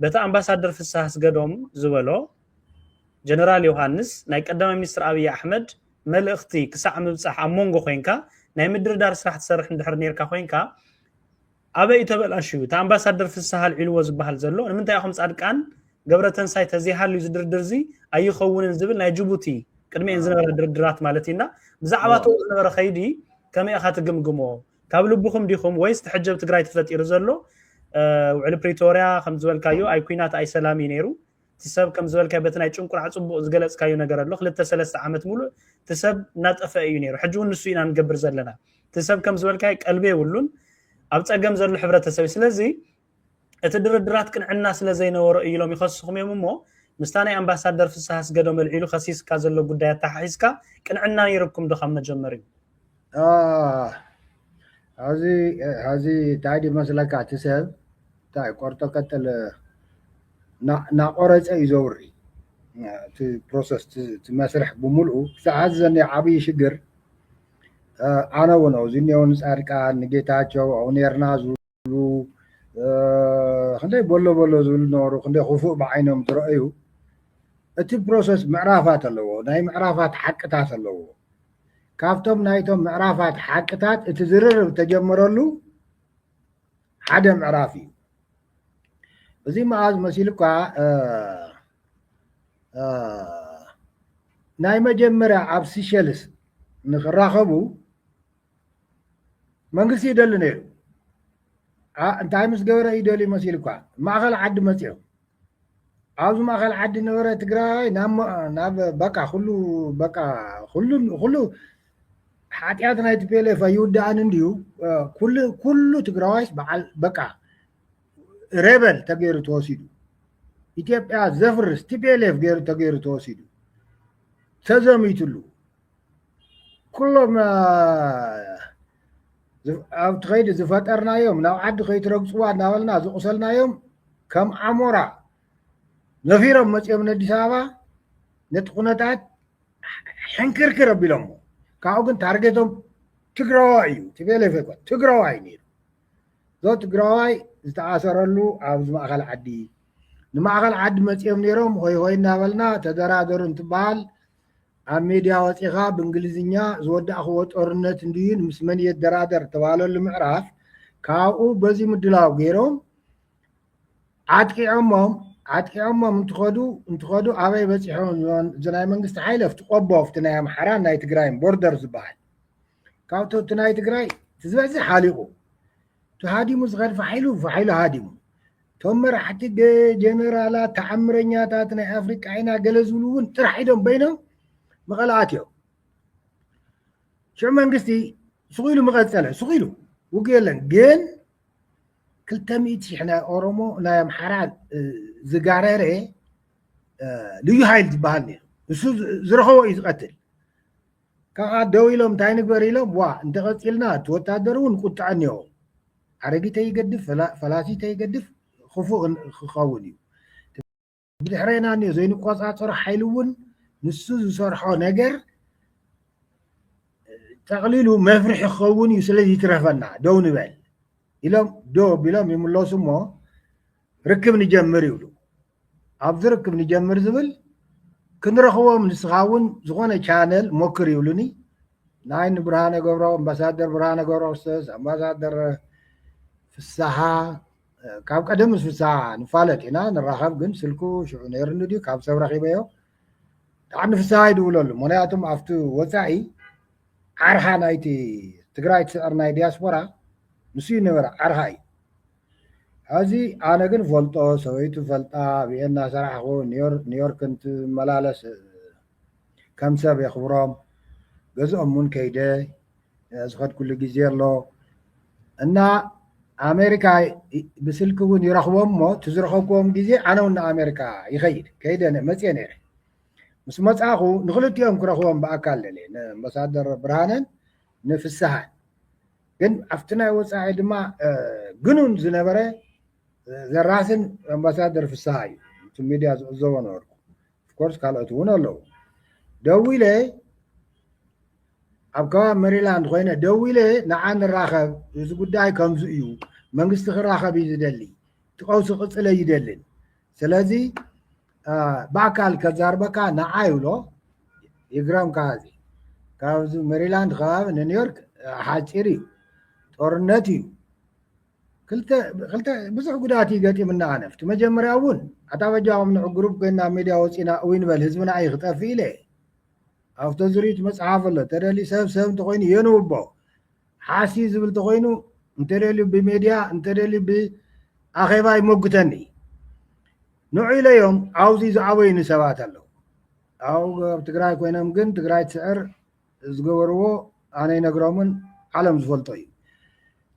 K: በቲ ኣምባሳደር ፍስሃ ስገዶም ዝበሎ ጀነራል ዮሃንስ ናይ ቀዳማይ ሚኒስትር ኣብዪ ኣሕመድ መልእኽቲ ክሳዕ ምብፃሕ ኣብ መንጎ ኮንካ ናይ ምድርዳር ስራሕ ትሰርሕ እንድሕር ነርካ ኮንካ ኣበይ ተበላሽዩ እቲ ኣምባሳደር ፍስሃ ኣልዒልዎ ዝበሃል ዘሎ ንምንታይ ኢኹም ጻድቃን ገብረተንሳይ ተዘይሃልዩ ዝድርድር እዚ ኣይኸውንን ዝብል ናይ ጅቡቲ ቅድሚኤን ዝነበረ ድርድራት ማለት እዩና ብዛዕባ ተኡ ዝነበረ ከይዲ ከመይ ኢኻ ትግምግሞ ካብ ልብኹም ዲኹም ወይስ ትሕጀብ ትግራይ ተፈጢሩ ዘሎ ውዕሊ ፕሪቶርያ ከም ዝበልካዮ ኣይ ኩናት ኣይ ሰላም እዩ ነይሩ እቲ ሰብ ከም ዝበልካዮ በቲ ናይ ጭንቁራዕ ጽቡቕ ዝገለጽካዮ ነገር ኣሎ ክልተ ሰለስተ ዓመት ሙሉእ እቲ ሰብ እናጠፈአ እዩ ነይሩ ሕጂ እውን ንሱ ኢና ንገብር ዘለና እቲ ሰብ ከም ዝበልካዮ ቀልቢ የብሉን ኣብ ጸገም ዘሎ ሕብረተሰብ እዩ ስለዚ እቲ ድርድራት ቅንዕና ስለ ዘይነበሮ እዩ ኢሎም ይኸስኹም እዮም እሞ ምስታ ናይ ኣምባሳደር ፍስሃ ኣስገዶም ኣልዒሉ ከሲስካ ዘሎ ጉዳይ ኣተሓሒዝካ ቅንዕና ነይርኩም ዶ ካብ መጀመርዩ ሐዚ
F: ሐዚ እንታይ ድዩ መስለካ እቲ ሰብ እንታይ ቆርጦ ቀጥል ናቆረፀ እዩ ዘውሪ እቲ ፕሮሰስ እቲ መስርሕ ብምልኡ ክሳብ ሐዚ ዘኒኦ ዓብዪ ሽግር ኣነ እውን ኣብዚ እኒኦ ንፃድቃን ንጌታቸው ኣብኡ ነይርና ዝብሉ ክንደይ በሎ በሎ ዝብሉ ነበሩ ክንደይ ክፉእ ብዓይኖም ዝረኣዩ እቲ ፕሮሰስ ምዕራፋት ኣለዎ ናይ ምዕራፋት ሓቅታት ኣለዎ ካብቶም ናይቶም ምዕራፋት ሓቅታት እቲ ዝርርብ ተጀመረሉ ሓደ ምዕራፍ እዩ እዚ መኣዝ መሲሉ እኳ ናይ መጀመርያ ኣብ ሲሸልስ ንክራኸቡ መንግስቲ ይደሊ ነይሩ እንታይ ምስ ገበረ እዩ ደልዩ መሲሉኳ ማእኸል ዓዲ መፅኦ ኣብዚ ማእኸል ዓዲ ነበረ ትግራይ ናብ በቃ ኩሉ በቃ ኩሉ ኩሉ ሓጢኣት ናይ ቲፔሌፍ ኣይውዳእን እንድዩ ኩሉ ኩሉ ትግራዋይስ በዓል በቃ ሬበል ተገይሩ ተወሲዱ ኢትዮጵያ ዘፍርስ ቲፔሌፍ ገይሩ ተገይሩ ተወሲዱ ተዘሚትሉ ኩሎም ኣብቲ ከይዲ ዝፈጠርናዮም ናብ ዓዲ ከይትረግፅዋ እናበልና ዝቑሰልናዮም ከም ኣሞራ ነፊሮም መፅኦም ንኣዲስ ኣበባ ነቲ ኩነታት ሕንክርክር ኣቢሎሞ ካብኡ ግን ታርጌቶም ትግራዋይ እዩ ቲቤሌፍ ይኮን ትግራዋይ ነይሩ እዞ ትግራዋይ ዝተኣሰረሉ ኣብዚ ማእኸል ዓዲ ንማእኸል ዓዲ መፅኦም ነይሮም ሆይ ሆይ እናበልና ተደራደሩ እንትበሃል ኣብ ሜድያ ወፂእኻ ብእንግሊዝኛ ዝወዳእኽዎ ጦርነት እንድዩን ምስ መን የደራደር ተባለሉ ምዕራፍ ካብኡ በዚ ምድላው ገይሮም ዓጥቂዖሞም ዓጥቂዖሞም እንትኸዱ እንትኸዱ ኣበይ በፂሖም እዚ ናይ መንግስቲ ሓይሊ ኣብቲ ቆቦ ኣብቲ ናይ ኣምሓራን ናይ ትግራይን ቦርደር ዝበሃል ካብቲ እቲ ናይ ትግራይ እቲ ዝበዝሕ ሓሊቑ ተሃዲሙ ዝኸድ ፋሒሉ ፋሒሉ ሃዲሙ እቶም መራሕቲ ጀነራላት ተዓምረኛታት ናይ ኣፍሪቃ ኢና ገለ ዝብሉ እውን ጥራሕ ኢዶም በይኖም መቐለ ኣትዮም ሽዑ መንግስቲ ስቑ ኢሉ መቐፀለ ስቑ ኢሉ ውግ የለን ግን ክልተ ሚእቲ ሽሕ ናይ ኦሮሞ ናይ ኣምሓራ ዝጋረረ ልዩ ሃይል ዝበሃል ነይሩ ንሱ ዝረኸቦ እዩ ዝቐትል ካዓ ደው ኢሎም እንታይ ንግበር ኢሎም ዋእ እንተቀፂልና እቲ ወታደር እውን ቁጥዐ እኒሆ ሓረጊተይ ይገድፍ ፈላሲተይ ይገድፍ ክፉእ ክኸውን እዩ ብድሕሬና እኒሆ ዘይንቆፃፀሮ ሓይሊ እውን ንሱ ዝሰርሖ ነገር ጠቕሊሉ መፍርሒ ክኸውን እዩ ስለዚ ይትረፈና ደው ንበል ኢሎም ዶ ቢሎም ይምለሱ እሞ ርክብ ንጀምር ይብሉ ኣብዚ ርክብ ንጀምር ዝብል ክንረኽቦም ንስኻ እውን ዝኾነ ቻነል ሞክር ይብሉኒ ናይ ንብርሃነ ገብረ ኣምባሳደር ብርሃነ ገብረ ክርስቶስ ኣምባሳደር ፍስሓ ካብ ቀደም ምስ ፍስሓ ንፋለጥ ኢና ንራኸብ ግን ስልኩ ሽዑ ነይሩኒ ድዩ ካብ ሰብ ረኺበዮ ብጣዕሚ ፍስሃ ይድውለሉ ምክንያቱም ኣብቲ ወፃኢ ዓርሓ ናይቲ ትግራይ ትስዕር ናይ ዲያስፖራ ንሱ ይነበረ ዓርሓ እዩ ሐዚ ኣነ ግን ፈልጦ ሰበይቱ ፈልጣ ኣብ እየ እናሰራሕኹ ኒዮርክ እንትመላለስ ከም ሰብ የኽብሮም ገዝኦም እውን ከይደ ዝኸድኩሉ ግዜ ኣሎ እና ኣሜሪካ ብስልኪ እውን ይረኽቦም እሞ እቲ ዝረኸብክዎም ግዜ ኣነ እውን ንኣሜሪካ ይኸይድ ከይደ መፅየ ነይረ ምስ መፃኹ ንክልቲኦም ክረኽቦም ብኣካል ደልየ ንኣምባሳደር ብርሃነን ንፍስሃን ግን ኣብቲ ናይ ወጻኢ ድማ ግኑን ዝነበረ ዘራስን ኣምባሳደር ፍስሃ እዩ እቲ ሚድያ ዝዕዘቦ ነበርኩ ኦፍኮርስ ካልኦት እውን ኣለዉ ደዊለ ኣብ ከባቢ መሪላንድ ኮይነ ደዊለ ንዓ ንራኸብ እዚ ጉዳይ ከምዚ እዩ መንግስቲ ክራኸብ እዩ ዝደሊ እቲ ቀውሲ ክቅፅል ኣይደልን ስለዚ ብኣካል ከዛርበካ ንዓይ ብሎ ይግረምካ እዚ ካብዚ መሪላንድ ከባቢ ንኒውዮርክ ሓፂር እዩ ጦርነት እዩ ብዙሕ ጉዳት እዩ ገጢምና ኣነፍቲ መጀመርያ እውን ኣታበጃም ንዕ ግሩፕ ኮይና ሚድያ ወፂና እይ ንበል ህዝብና እይ ክጠፍ ኢለ ኣብቶ ዝሪት መፅሓፍ ኣሎ ተደሊ ሰብ ሰብ እንተኮይኑ የንውቦ ሓሲ ዝብል ተኾይኑ እንተደልዩ ብሜድያ እንተደልዩ ብኣኼባ ይመጉተኒ ንዑ ኢለዮም ዓውዚ ዝዓበዩኒ ሰባት ኣለዉ ኣብ ኣብ ትግራይ ኮይኖም ግን ትግራይ ትስዕር ዝገበርዎ ኣነ ይነግሮምን ዓለም ዝፈልጦ እዩ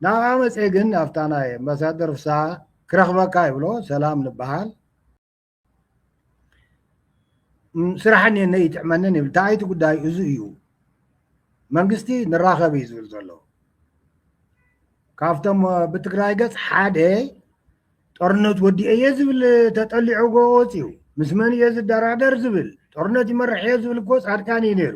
F: ናብኣ መፀ ግን ኣብታ ናይ ኣምባሳደር ፍስሃ ክረኽበካ ይብሎ ሰላም ንበሃል ስራሕ እኒሀኒ ይጥዕመንን ይብል እንታይ እቲ ጉዳይ እዚ እዩ መንግስቲ ንራኸብ እዩ ዝብል ዘሎ ካብቶም ብትግራይ ገፅ ሓደ ጦርነት ወዲኤ እየ ዝብል ተጠሊዑ ጎወፅ እዩ ምስ መን እየ ዝደራደር ዝብል ጦርነት ይመርሕ እየ ዝብል እኮ ፃድቃን እዩ ነይሩ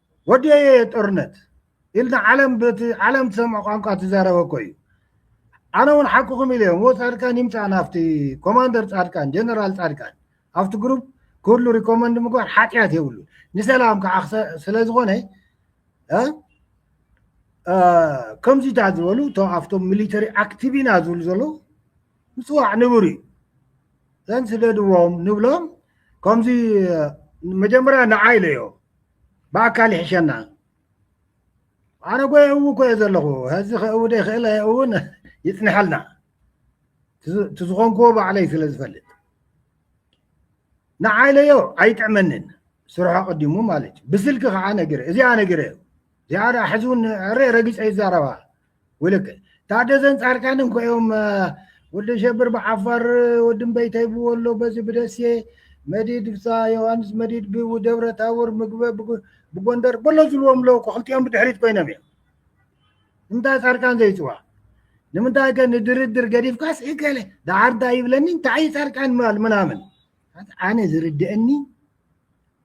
F: ወዲኤዮ እየ ጦርነት ኢልና ዓለም በቲ ዓለም ትሰምዖ ቋንቋ ትዛረበ እኮ እዩ ኣነ እውን ሓቅኹም ኢለ እሞ ፃድቃን ይምፃእ ናብቲ ኮማንደር ፃድቃን ጀነራል ፃድቃን ኣብቲ ግሩፕ ክህሉ ሪኮመንድ ምግባር ሓጢኣት የብሉ ንሰላም ከዓ ስለዝኾነ ከምዚታት ዝበሉ እቶ ኣብቶም ሚሊተሪ ኣክቲቭ ኢና ዝብሉ ዘለዉ ምፅዋዕ ንቡር እዩ ዘን ስደድዎም ንብሎም ከምዚ መጀመርያ ንዓይ ኢለዮ ብኣካል ይሕሸና ኣነጎ የእው እኮ እየ ዘለኹ ሕዚ ከእው ደይክእል ኣየእውን ይፅንሐልና እቲ ዝኾንክዎ ባዕለይ ስለ ዝፈልጥ ንዓይለዮ ኣይጥዕመንን ስርሖ ቀዲሙ ማለት እዩ ብስልኪ ከዓ ነግረ እዚኣ ነግረ እዚኣ ሕዚ እውን ዕረ ረጊፀ ይዛረባ ውልቅ ታደዘን ጻድቃን እንኮ እዮም ወዲ ሸብር ብዓፋር ወዲ እምበይተይ ብወሎ በዚ ብደሴ መዲድ ብሳ ዮሃንስ መዲድ ብደብረ ታቦር ምግበ ብጎንደር በሎ ዝብልዎም ኣለዉ እኮ ክልቲኦም ብድሕሪት ኮይኖም እዮም ንምንታይ ጻድቃን ዘይፅዋ ንምንታይ ከ ንድርድር ገዲፍካስ እከለ ደዓር እንታይ ይብለኒ እንታይ እዩ ጻድቃን ምናምን ኣነ ዝርድአኒ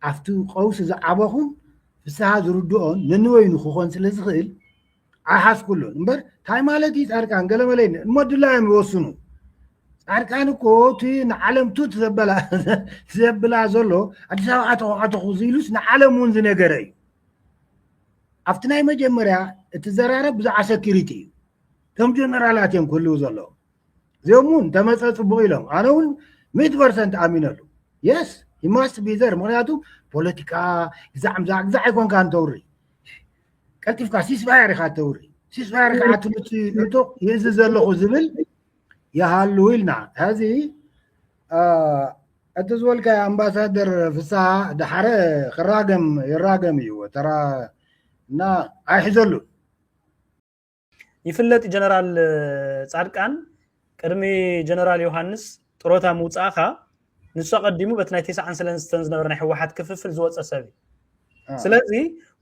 F: ኣብቲ ቀውሲ ዝዓበኹን ፍስሃ ዝርድኦን ነንበይኑ ክኾን ስለ ዝኽእል ኣይሓዝኩሉን እምበር እንታይ ማለት እዩ ፃድቃን ገለመለ እሞ ድላዮም ይወስኑ ፃድቃን እኮ እቲ ንዓለም ቱት ዘበላ ዘብላ ዘሎ ኣዲስ ኣበባ ኣተኹ ኣተኹ ዝኢሉስ ንዓለም እውን ዝነገረ እዩ ኣብቲ ናይ መጀመርያ እቲ ዘራረብ ብዛዕባ ሰኪሪቲ እዩ ከም ጀነራላት እዮም ክህልው ዘለዎም እዚኦም እውን እንተመፀ ፅቡቅ ኢሎም ኣነ እውን ሚእቲ ፐርሰንት ኣሚነሉ የስ ሂማስት ቢዘር ምክንያቱ ፖለቲካ ግዛዕምዛዕ ግዛዕ ኣይኮንካ እንተውሪ ቀልጢፍካ ሲስፋየር ኢካ ተውሪ ሲስፋየር ከዓ ትምህርቲ ዕጡቅ ይእዝ ዘለኹ ዝብል ይሃሉ ኢልና ሕዚ እቲ ዝበልካ ኣምባሳደር ፍስሃ ዳሓረ ክራገም ይራገም እዩ ተራ እና ኣይሕዘሉን
K: ይፍለጥ ጀነራል ጻድቃን ቅድሚ ጀነራል ዮሃንስ ጥሮታ ምውፃእካ ንሱ ኣቐዲሙ በቲ ናይ ቴስዓን ሰለስተን ዝነበረ ናይ ህወሓት ክፍፍል ዝወፀ ሰብ እዩ ስለዚ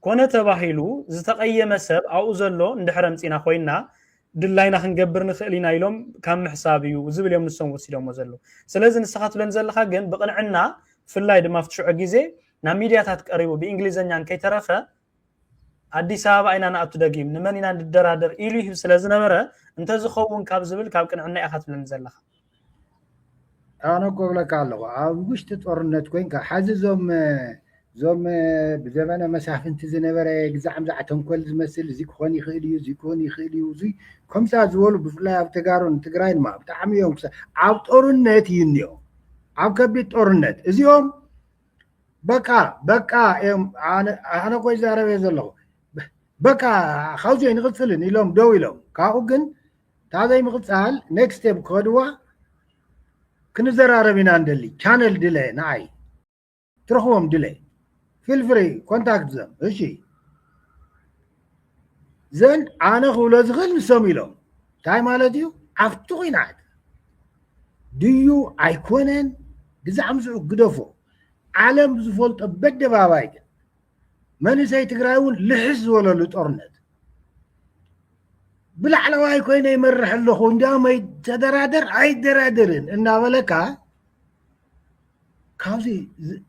K: ኮነ ተባሂሉ ዝተቐየመ ሰብ ኣብኡ ዘሎ እንድሕረ ምፅና ኮይና ድላይና ክንገብር ንኽእል ኢና ኢሎም ካብ ምሕሳብ እዩ ዝብል እዮም ንሶም ወሲዶሞ ዘለዉ ስለዚ ንስኻ ትብለን ዘለካ ግን ብቕንዕና ብፍላይ ድማ ኣብቲ ሽዑ ግዜ ናብ ሚድያታት ቀሪቡ ብእንግሊዘኛን ከይተረፈ ኣዲስ ኣበባ ኢና ንኣቱ ደጊም ንመን ኢና ንደራደር ኢሉ ይህብ ስለ ዝነበረ እንተዝኸውን ካብ ዝብል ካብ ቅንዕና ኢኻ ትብለኒ ዘለኻ
F: ኣነ እኮ ብለካ ኣለኹ ኣብ ውሽጢ ጦርነት ኮንካ ሓዚ እዞም እዞም ብዘመነ መሳፍንቲ ዝነበረ ግዛዕምዛዕ ተንኮል ዝመስል እዚ ክኾን ይኽእል እዩ እዚ ክኾን ይኽእል እዩ እዚ ከምሳ ዝበሉ ብፍላይ ኣብ ተጋሩን ትግራይን ማ ብጣዕሚ እዮም ኣብ ጦርነት ይንዮ ኣብ ከቢድ ጦርነት እዚኦም በቃ በቃ እዮም ኣነ ኮይ ዛረበ ዘለኹ በቃ ካብዚ ንቕፅልን ኢሎም ደው ኢሎም ካብኡ ግን ታዘይ ምቕፃል ኔክስት ስቴፕ ክኸድዋ ክንዘራረብ ኢና ንደሊ ቻነል ድለ ንዓይ ትረኽቦም ድለ ፊልፍሪ ኮንታክት ዘም እሺ ዘን ኣነ ክብሎ ዝኽእል ንሶም ኢሎም እንታይ ማለት እዩ ኣብቲ ኩናት ድዩ ኣይኮነን ብዛዕ ምስኡ ግደፎ ዓለም ዝፈልጦ በደባባይ ግን መንእሰይ ትግራይ እውን ልሕስ ዝበለሉ ጦርነት ብላዕለዋይ ኮይነ ይመርሕ ኣለኹ እንዲያውም ተደራደር ኣይደራደርን እናበለካ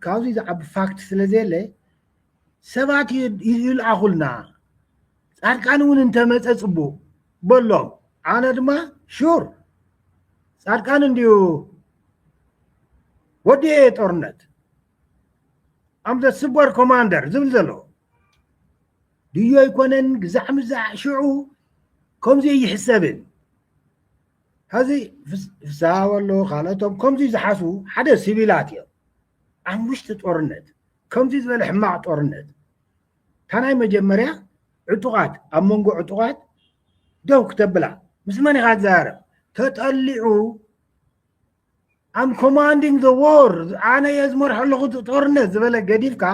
F: ካብዚ ዝዓቢ ፋክት ስለ ዘየለ ሰባት ይልኣኹልና ፃድቃን እውን እንተመፀ ፅቡቅ በሎም ኣነ ድማ ሹር ፃድቃን እንድዩ ወዲ እየ ጦርነት ኣም ዘ ሱፐር ኮማንደር ዝብል ዘሎ ድዩ ኣይኮነን ግዛዕ ምዛዕ ሽዑ ከምዚ ይሕሰብን ሀዚ ፍስሃ በሎ ካልኦቶም ከምዚ ዝሓስቡ ሓደ ሲቪላት እዮም ኣብ ውሽጢ ጦርነት ከምዚ ዝበለ ሕማቅ ጦርነት ታናይ መጀመርያ ዕጡቃት ኣብ መንጎ ዕጡቃት ደው ክተብላ ምስ መን ኢካ ትዛረብ ተጠሊዑ ኣም ኮማንዲንግ ዘ ዎር ኣነ እየ ዝመርሖ ኣለኹ ጦርነት ዝበለ ገዲፍካ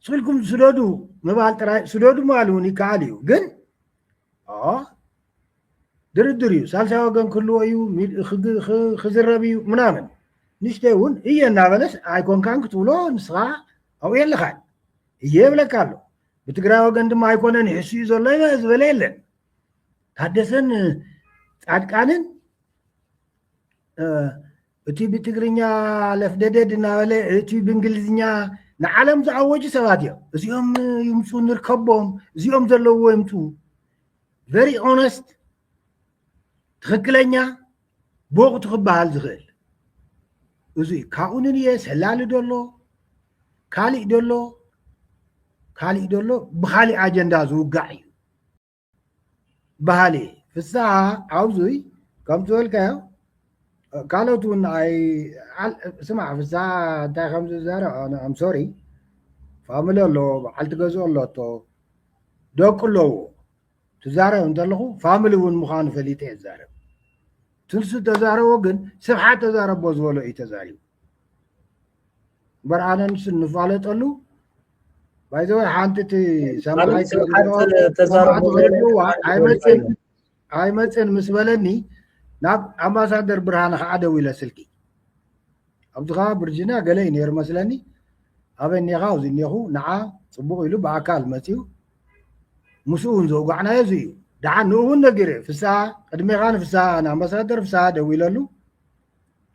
F: ስልኩም ስደዱ ምባል ጥራይ ስደዱ ምባል እውን ይከኣል እዩ ግን ድርድር እዩ ሳልሳይ ወገን ክህልዎ እዩ ክዝረብ እዩ ምናምን ንሽተ እውን እየ እናበለስ ኣይኮንካን ክትብሎ ንስኻ ኣብኡ የለኻን እየ የብለካ ኣሎ ብትግራይ ወገን ድማ ኣይኮነን ይሕሱ እዩ ዘሎ ዝበለ የለን ታደሰን ፃድቃንን እቲ ብትግርኛ ለፍደደድ እናበለ እቲ ብእንግሊዝኛ ንዓለም ዝኣወጁ ሰባት እዮም እዚኦም ይምፁ ንርከቦም እዚኦም ዘለዎ ይምፁ ቨሪ ኦነስት ትክክለኛ ብወቅቱ ክበሃል ዝኽእል እዚ እዩ ካብኡ ንንየ ሰላሊ ደሎ ካሊእ ደሎ ካሊእ ደሎ ብካሊእ ኣጀንዳ ዝውጋዕ እዩ በሃሊ ፍስሃ ኣብዙይ ከም ዝበልካዮ ካልኦት እውን ስማዕ ፍስሃ እንታይ ከም ዝዛረብ ኣም ሶሪ ፋሚሊ ኣለዎ በዓልቲ ገዝኡ ኣሎቶ ደቁ ኣለዎ ትዛረብ እንተለኹ ፋሚሊ እውን ምዃኑ ፈሊጠ እየ ዝዛረብ ትንሱ ተዛረቦ ግን ስብሓት ተዛረቦ ዝበሎ እዩ ተዛሪቡ እምበር ኣነ ንሱ እንፋለጠሉ ባይዘወ ሓንቲ እቲ ሰማይ ኣይመፅን ኣይመፅን ምስ በለኒ ናብ ኣምባሳደር ብርሃነ ከዓ ደው ኢለ ስልኪ ኣብዚ ከዓ ብርጅንያ ገለ እዩ ነይሩ መስለኒ ኣበይ እኒኻ ኣብዚ እኒኹ ንዓ ፅቡቅ ኢሉ ብኣካል መፅኡ ምስኡ እውን ዘውጋዕናዮ እዚ እዩ ድሓን ንኡ እውን ነጊረ ፍስሃ ቅድሜኻ ንፍስሃ ንኣምባሳደር ፍስሃ ደው ኢለሉ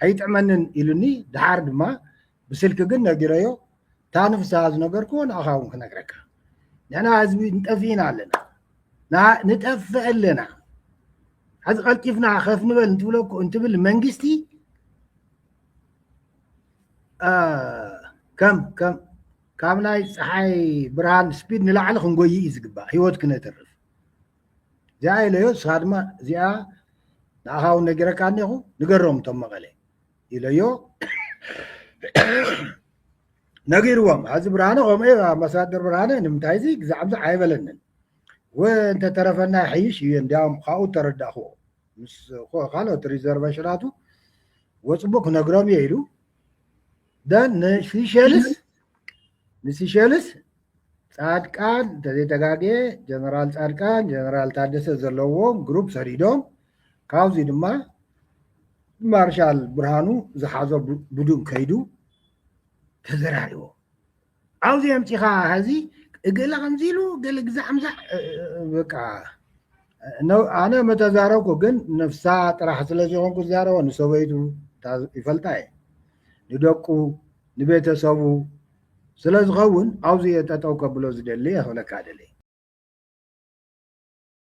F: ኣይጥዕመንን ኢሉኒ ደሓር ድማ ብስልኪ ግን ነጊረዮ እታ ንፍስሃ ዝነገርክዎ ንኣኻ እውን ክነግረካ ንሕና ህዝቢ ንጠፊእና ኣለና ንጠፍእ ኣለና ሕዚ ቀልጢፍና ከፍ ንበል እንትብለኩ እንትብል መንግስቲ ከም ከም ካብ ናይ ፀሓይ ብርሃን ስፒድ ንላዕሊ ክንጎይ እዩ ዝግባእ ሂወት ክነትርፍ እዚኣ ኢለዮ ንስኻ ድማ እዚኣ ንኣኻ እውን ነጊረካ እኒኹ ንገሮም እቶም መቐለ ኢለዮ ነጊርዎም ኣዚ ብርሃነ ከምኡ እዩ ኣምባሳደር ብርሃነ ንምንታይ እዚ ግዛዕምዚ ኣይበለንን ወእንተተረፈና ይሐይሽ እዩ እንዲያውም ካብኡ ተረዳእክዎ ምስ ካልኦት ሪዘርቨሽናቱ ወፅቡቅ ክነግሮም እየ ኢሉ ደን ንሲሸልስ ንሲሸልስ ፃድቃን እንተዘይተጋግየ ጀነራል ፃድቃን ጀነራል ታደሰ ዘለዎም ግሩፕ ሰዲዶም ካብዚ ድማ ማርሻል ብርሃኑ ዝሓዞ ቡዱን ከይዱ ተዘራሪቦም ዓውዚ ኣምፂኻ ሀዚ እገለ ከምዚ ኢሉ ገለ ግዛዕ ምዛዕ በቃ ኣነ መተዛረብኩ ግን ነፍሳ ጥራሕ ስለ ዝኾንኩ ዝዛረቦ ንሰበይቱ ይፈልጣ እየ ንደቁ ንቤተሰቡ ስለ ዝኸውን ኣብዚ እየ ጠጠው ከብሎ ዝደሊ እየ ክብለካ ደሊ